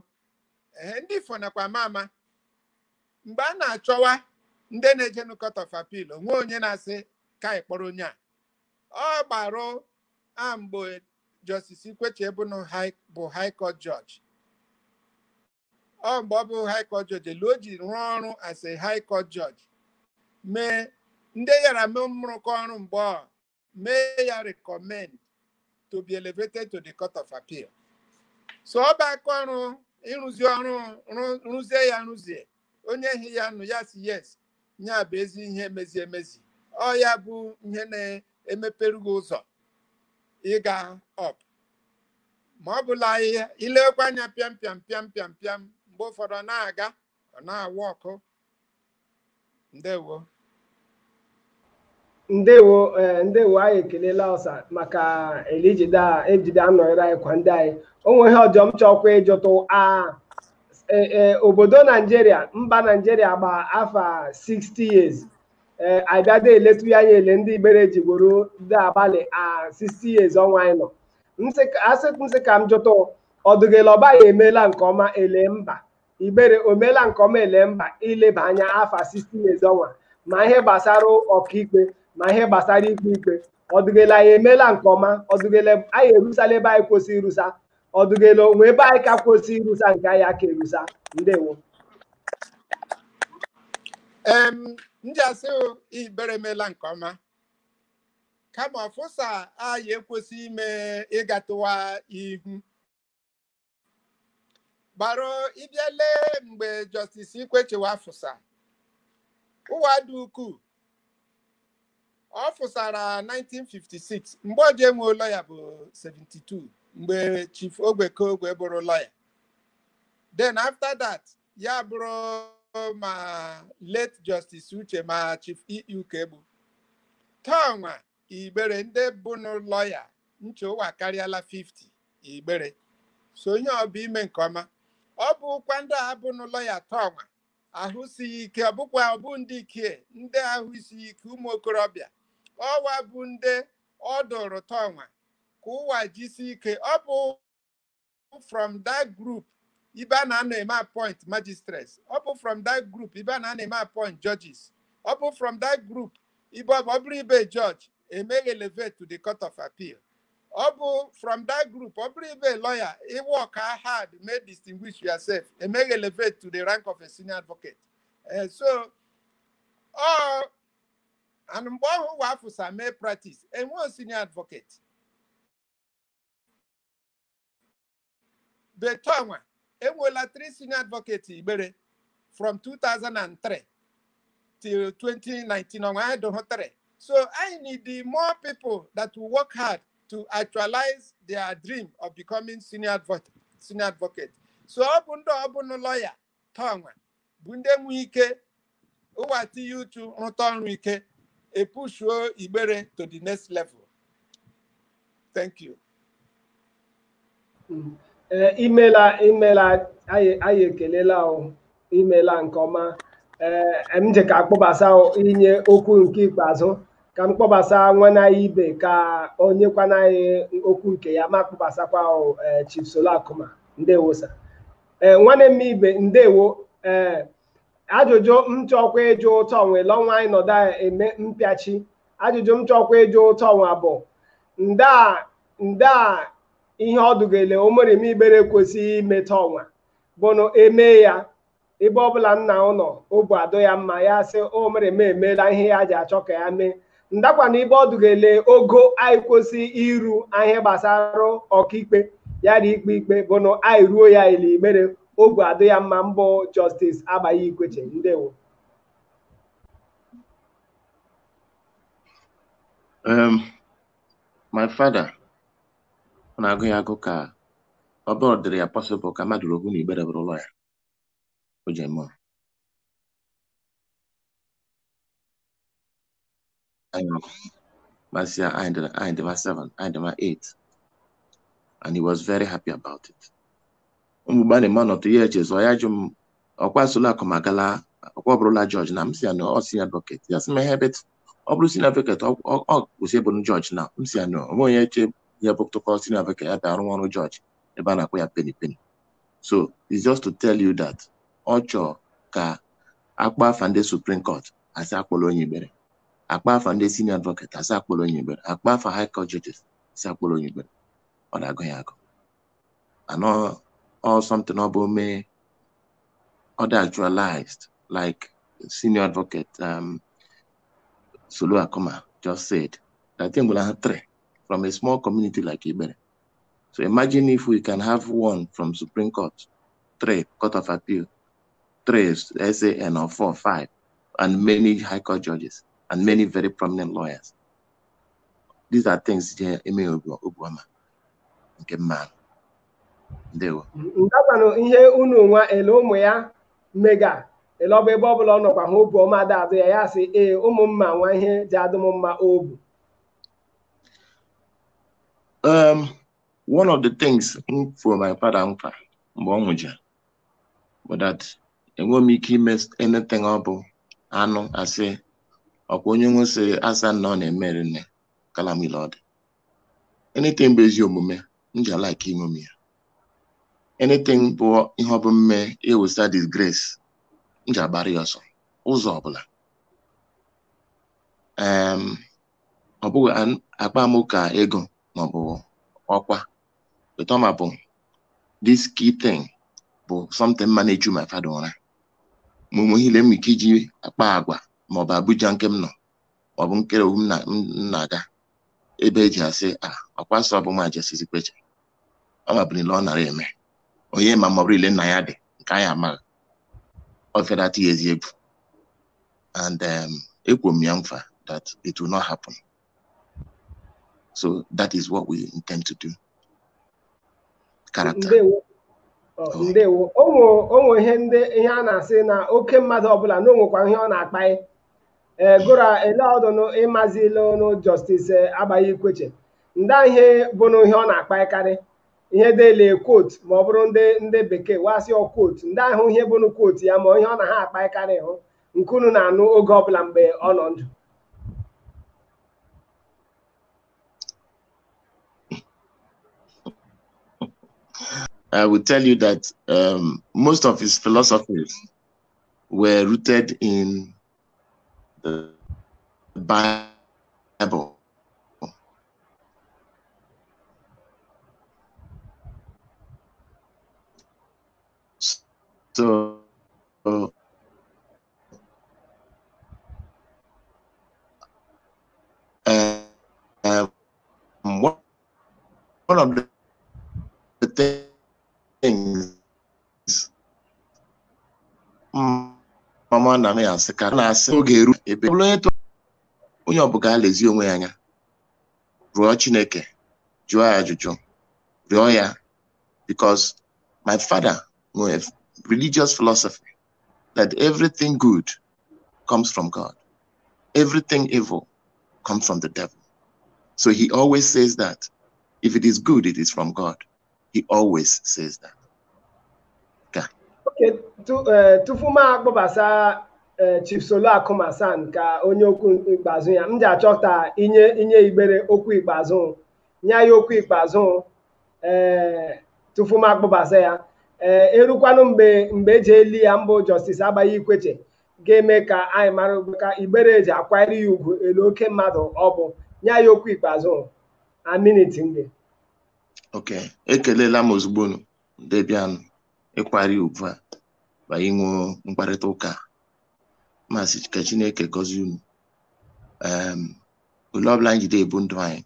ee ndị ifo nakwa ama ama mgbe a na-achọwa ndị na-ejenu court of appeal o nwe onye na-asị ka anyị kpọrọ onye a ọ gbarụ a mgbe justice ikwechegh bụ high court judge ọ mgbe ọ bụ high court judge ele o ji rụọ ọrụ as a high court judge mee ndị ya ra mee mrụkọ ọrụ mgbe ọ mee ya recommend to be elevated to the court of appeal so ọ bụ aka ọrụ ịrụzi ọrụ rụzie ya rụzie onye hi ya nụ ya sị yes ya bụ ezi ihe emezi emezi ọ ya bụ ihe na-emepere gị ụzọ ịga up ma ọ bụla ihe ilekwa anya pịam pịam pịam pịam pịam mgbe ụfọdụ ọ na-aga ọ na-awụ ọkụ ndewo ndewo ee ndewo anyị ekelela ọsa maka ele i jide a ejide anọnyere anyị kwa ndị anyị o nwe ihe ọjọ m chọkwa ịjụtụ a e- e, obodo naijiria mba naijiria gba afa 60 years ee a bịa de eletụ ya anya ele ndị igbere ji grow ndị abalị a 60 years ọnwa anyị nọ M sị ka- asị m sị ka m jụtụ ọ dụ gị ele ọ bụ anyị emeela nke ọma ele mba Igbere o meela nke ọma ele mba i leba anya afa 60 years ọnwa ma ihe gbasara ọkaikpe ma ihe gbasara ikpe ikpe ọ dụ gị ele anyị emeela nke ọma ọ dụ gị ele anyị erusala ebe anyị kwesịrị irusa ọ dụ gị ele o nwe ebe anyị ka kwesịrị irusa nke anyị aka erusa ndewo em m ji asị Igbere emeela nke ọma kama ọfụsa anyị ekwesị ime ịgatụwa ihu gbara ị bịa lee mgbe Justice Ikwechegh a fụsa ụwa dị ukwuu ọ fụsara 1956 mgbe ọjọ e nwe lọya bụ 72 mgbe Chief Ogbeke Ogwe bụrụ lọya then after that ya bụrụ ma late Justice Uche ma Chief E.E. Ukegbu taa ọnwa igbere ndị bụnụ lọya m che ụwa akarịala 50 igbere so onye ọ bụ ime nke ọma ọ bụkwa ndị a bụnụ lọya tọnwa ahụ sighị ike ọ bụkwa ọ bụ ndị ike ndị ahụ isighị ike ụmụ okorobịa ọwa bụ ndị ọ dụrụ tọnwa ka ụwa jisi ike ọ bụ from that group ibe a na-anọ eme appoint magistrates ọ bụ from that group ibe a na-anọ eme appoint judges ọ bụ from that group ibe ọ bụ ọ bụrụ ibe judge e mee ghị elevate to the court of appeal ọ bụ from that group ọ bụrụ ibe lawyer ị work hard mee distinguish yourself e mee ghị elevate to the rank of a senior advocate Eh, so ọ and mgbe ọhụ ụwa afụsa mee practice enwee senior advocate but ọnwa enwela three senior advocate igbere from 2003 till 2019 ọnwa anyị dụhụ three so anyị need more people that will work hard to actualize their dream of becoming senior advocate so ọ bụ ndị ọ bụnụ lọya tọnwa bụ ndị nwe ike ụwa tinye uchu rụta ọrụ ike epushuo igbere to the next level thank you ee imela imela anyị anyị ekelela o imela nke ọma ee m je ka akpọbasa o inye okwu nke ikpeazụ ka m kpọbasa nwanne anyị ibe ka o nyekwana anyị okwu nke ya ma kpọbasakwa o ee, Chief Solo Akuma ndewo sir ee nwanne m ibe ndewo ee ajụjụ m chọkwa ịjụ tọnwa le ọnwa anyị nọda eme mpịachi ajụjụ m chọkwa ịjụ tọnwa bụ nda nda ihe ọ dụ gị ele ụmụrima igbere kwesị imeta ọnwa bụnụ eme ya ebe ọbụla nna ụlọ obu adụ ya mma ya sị ụmụrima emeela ihe ya ji achọ ka ya mee ndakwanụ ibe ọ dụ gị ele ogo anyị kwesị iru ihe gbasara ọkaikpe ya dị ikpe ikpe bụnụ anyị ruo ya la igbere obu adụ ya mma mbụ jọstis Agbai Ikwechegh ndewo um, my father ọ na-agụ ya agụụ ka ọ bụrụ dịrị ya pọsịbụl ka mmadụ ruo na igbere bụrụ lọya o ji eme anyị nọkọ masịa anyị dị anyị dị ma 7 anyị dị ma 8 and he was very happy about it mgbe na m anọtụ ya echezọọ ya jụ m ọkwa Solo Akuma agala ọkwa ọ bụrụla jọji na m sị ya na ọ senior advocate ya sị m ehe but ọ bụrụ senior advocate o kwesị ịbụ jọji na m sị ya na o nwe onye eche ya bụtụkọ senior advocate ya bịa arụ ọrụ jọji ebe a na-akwụ ya peni peni so it's just to tell you that ọ chọọ ka a kpaa afa ndị Supreme Court asị akpọrọ onye Ibere akpa afa ndị senior advocate asị akpọrọ onye Ibere akpa afa high court judges asị akpọrọ onye Ibere ọ na-agụ ya agụụ and ọ something ọ bụ mee ọ dị actualized like senior advocate um, Solo Akuma just said that thing will have three from a small community like Ibere. So imagine if we can have one from Supreme Court, three Court of Appeal, three SAN or four, five, and many high court judges and many very prominent lawyers. These are things ji eme obu ọma nke mma ndewo. Ndakwanụ ihe unu nwa ele ụmụ ya mega ele ọ bụ ebe ọ bụla ọ nọkwa ha obu ọma da-adụ ya ya sị ee ụmụ mma nwa ihe ji adụ m mma obu. Um, one of the things m kwe my father nkwa mgbe ọ nwụjara bụ that enweghị m ike ime anything ọ bụ anụ asị ọkwa onye nwe sị asa na ọ na-emere nne kalamile ọ dị anything bụ ezi omume m ji alike ime m ya anything bụ ihe ọ bụ mme ewesa disgrace m ji agbara ya ọsọ ụzọ ọbụla em ọ bụ an- akpa maka ego maọbụ ọkwa Toma bụ this key thing bụ something ma na-echu my father ụra ma ụmụ ihe m ike iji akpa agwa ma ọ bụ Abuja nke m nọ ma ọ bụ nkere owu m na-aga ebe eji asị a ọkwa sọ bụ nwa Justice Ikwechegh ọ mabụrụ ile ọ nara eme onye ma ma ọ bụrụ ile nna ya dị nke anyị amaghị ọ fere atụ ya ezi egwu and ekwuo m ya mfa that it will not happen So that is what we intend to do. Character. Ndewo. Oh, Oh. ndewo o nwe- o nwe ihe ndị ihe a na-asị na oke mmadụ ọbụla na o nwekwa ihe ọ na-akpaị ee gora ele ọdụnụ ịmazi ile ọnụ Justice Agbai Ikwechegh ndị ihe bụnụ ihe ọ na-akpaịkarị ihe dele quote ma ọ bụrụ ndị ndị bekee wasị quote ndị ahụ ihe bụnụ quote ya ma ihe ọ na ha akpaịkarị hụ nke unu na-anụ oge ọbụla mgbe ọ nọ ndụ I will tell you that um, most of his philosophies were rooted in the Bible. So, uh, uh, um, one, one of the, the things mm, mama na m ya asị ka na-asị oge eru ebe ọ bụla onye tụ onye ọbụla alezi onwe ya anya rụọ Chineke jụọ ya ajụjụ rịọ ya because my father nwere religious philosophy that everything good comes from God everything evil comes from the devil so he always says that if it is good it is from God he always says that okay. okay eh, tufu m akpọbasa Eh, Chief Solo Akuma SAN ka o nye okwu ikpeazụ ya m ji achọta inye inye igbere okwu ikpeazụ nye ha okwu ikpeazụ ee tufu m akpọbasa ya ee erukwanụ mgbe mgbe eji eli ya mbụ Justice Agbai Ikwechegh ga-eme ka anyị mara ugbu ka igbere eji akwanyere ya ugwu elu oke mmadụ ọ bụ nye ya okwu ikpeazụ a minit nge ok ekelela m ozugbo unu ndị bịanụ ịkwara ya ugwu a ma inwe mkparịta ụka a. ma sị ka chineke gọzie unu Em, ule ọbụla anyị jide ebu ndụ anyị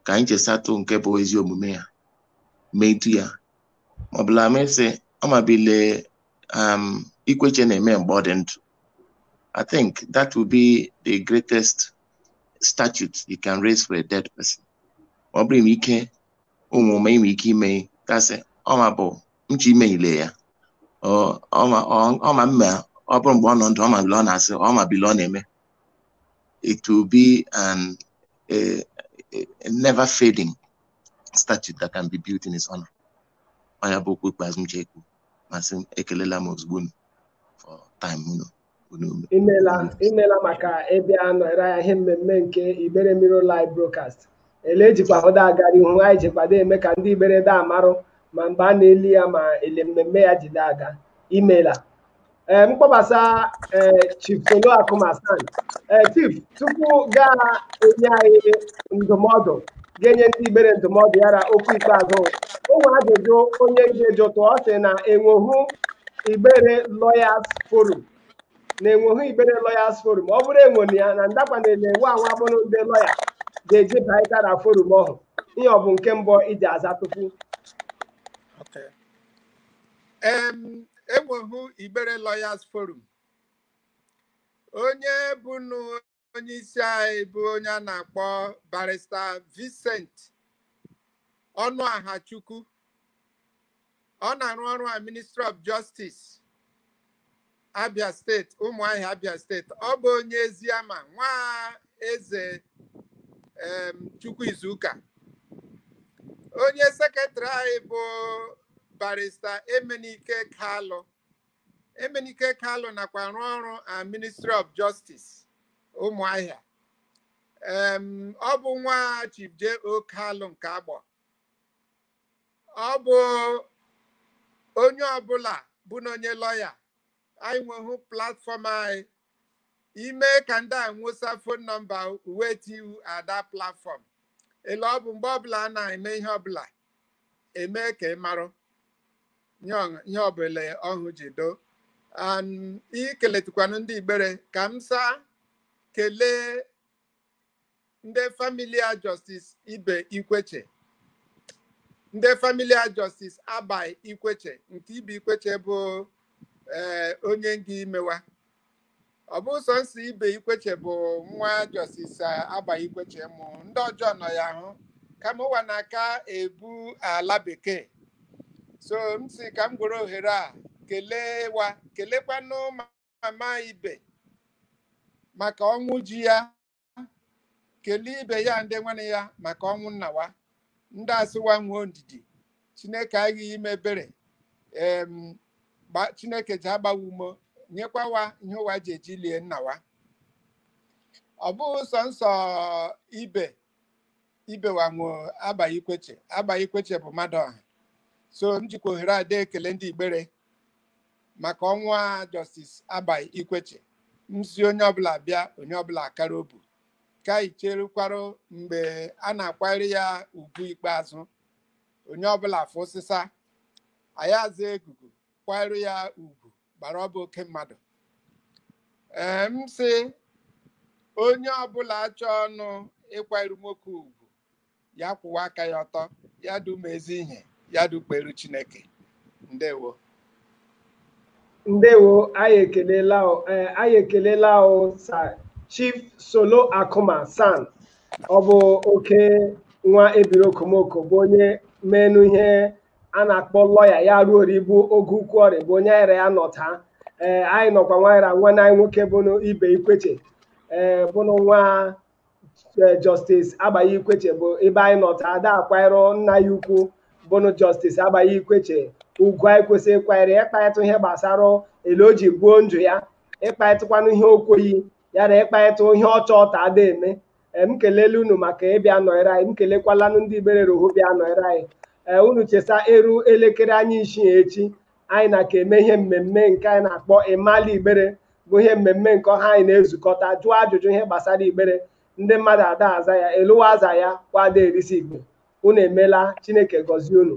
ka anyị chesatụ nke bụ ezi omume ya metu ya maọbụla mesị ọma bile um, Ikwechegh na-eme mgbe ọ dị ndụ I think that will be the greatest statue you can raise for a dead person ọ bụrụ ime ike ụmụ ụma ime ike ime gasị ọma bụ nche imenyile ya ọma mma ọ bụrụ mgbe ọ nọ ndụ ọma bile ọ na-asị ọma bile ọ na-eme it will be an a, a, a never fading statue that can be built in his honor. Ọ ya bụ okwu ikpeazụ m chekwu ma sị m ekelela m ozugbo unu for time unu unu unu. imela imela maka ịbịa nọrọ ya ihe mmemme nke Igbere Mirror Live Broadcast ele ejikwa hụda aga n'ihu anyị jikwado eme ka ndị Igbere da amarụ ma mgbe a na-eli ya ma ele mmemme ya jide aga imela ee m kpọbasa ee chief solo Akuma SAN ee chief tupu ga-enye anyị ndụmọdụ ga-enye ndị igbere ndụmọdụ ya na okwu ikpeazụ o nwere ajụjụ onye ihe jụtụ ọ sị na enweghị igbere lawyers forum na enweghị igbere lawyers forum ọ bụrụ enwere ya na ndakwanụ ele nwa anwa bụrụ ndị lọya ga-eji baịta na forum ọhụ ihe ọ bụ nke mbụ ị ji aza tupu e nwehụ Igbere Lawyers Forum onye bụnụ onye isi anyị bụ onye a na-akpọ barista Vincent Ọnụaha Chukwu ọ na-arụ ọrụ a Ministry of Justice Abia steeti Ụmụahịa Abia steeti ọ bụ onye Eziama nwa eze em, Chukwu Izuka onye sekretrị anyị bụ barista Emenike Kalụ Emenike Kalụ nakwa arụ ọrụ na Ministry of Justice Ụmụahịa Em, ọ bụ nwa Chief J.O. Kalụ nke Agbọ ọ bụ onye ọbụla bụ na onye lọya anyị nwehụ platfọm anyị i mee ka ndị a nwụsa fon nọmba uwe tiu ada platfọm ele ọ bụ mgbe ọbụla a na-eme ihe ọbụla eme ka ị marụ ihe ọbụla ọhụ ji do i keletụkwanụ ndị igbere ka m saa kelee ndị famịlị a Justice Ibe Ikweche ndị famịlị a Justice Abai Ikweche nke Ibe Ikweche bụ ee onye nga ime wa ọ bụghị sọ nsọ Ibe Ikweche bụ nwa Justice Abai Ikweche mụ ndị ọjọ nọ ya hụ kama ụwa na-aka ebu ala bekee so m si ka m gwere ohere a kelee wa kelekwanụ mama Ibe maka ọnwụ ji ya kelee Ibe ya ndị nwanne ya maka ọnwụ nna wa ndị asị wa nwee ndidi chineke aghaghị ime ebere em gba- chineke ji agba wa ume nyekwa wa ihe ụwa ji eji lie nna wa ọ bụghị sọ nsọ Ibe Ibe wa nwo Abai Ikweche Abai Ikweche bụ mmadụ ọha so m jikwa ohere a dee ekele ndị igbere maka ọnwụ a Justice Abai Ikweche m sị onye ọbụla bịa onye ọbụla akara obu ka anyị cherekwara mgbe a na-akwanyere ya ugwu ikpeazụ onye ọbụla fụsịsa anyị aza egugu kwanyere ya ugwu gbara ọ bụ oke mmadụ ee m sị onye ọbụla achọọnụ ịkwanyere nwoke ugwu ya kwụwa aka ya ọtọ ya dị eme ezi ihe ya dị ekperu chineke ndewo ndewo anyị ekelela o ee, anyị ekelela o Sir Chief Solo Akụma SAN ọ bụ oke nwa ebiri okomoko bụ onye menụ ihe a na-akpọ lọya ya ruo ori bụ oge ukwu ọrị bụ onye anyị ra ya nọ taa ee anyị nọkwa anyị ra nwanne anyị nwoke bụ ibe ikweche ee bụnụ nwa justice agbai ikweche bụ ebe anyị nọ taa da akwanyere nna ya ukwu bụnụ justice agbai ikweche ugwu anyị kwesịrị ịkwanyere ya ịkparịta ihe gbasara ele o ji gbuo ndụ ya ịkparịtakwanụ ihe o kweyi ya na ịkparịta ihe ọ chọ ta a da eme m kelele unu maka ịbịa nọnyere anyị m kelekwalanụ ndị igbere roho bịa nọnyere anyị ee unu chesa eru elekere anyị isii echi anyị na ka eme ihe mmemme nke anyị na-akpọ ịmala igbere bụ ihe mmemme nke ọha anyị na-ezukọta jụọ ajụjụ ihe gbasara igbere ndị mmadụ ada aza ya eluwa aza ya kwado erisi igbe unu emela chineke gọzie unu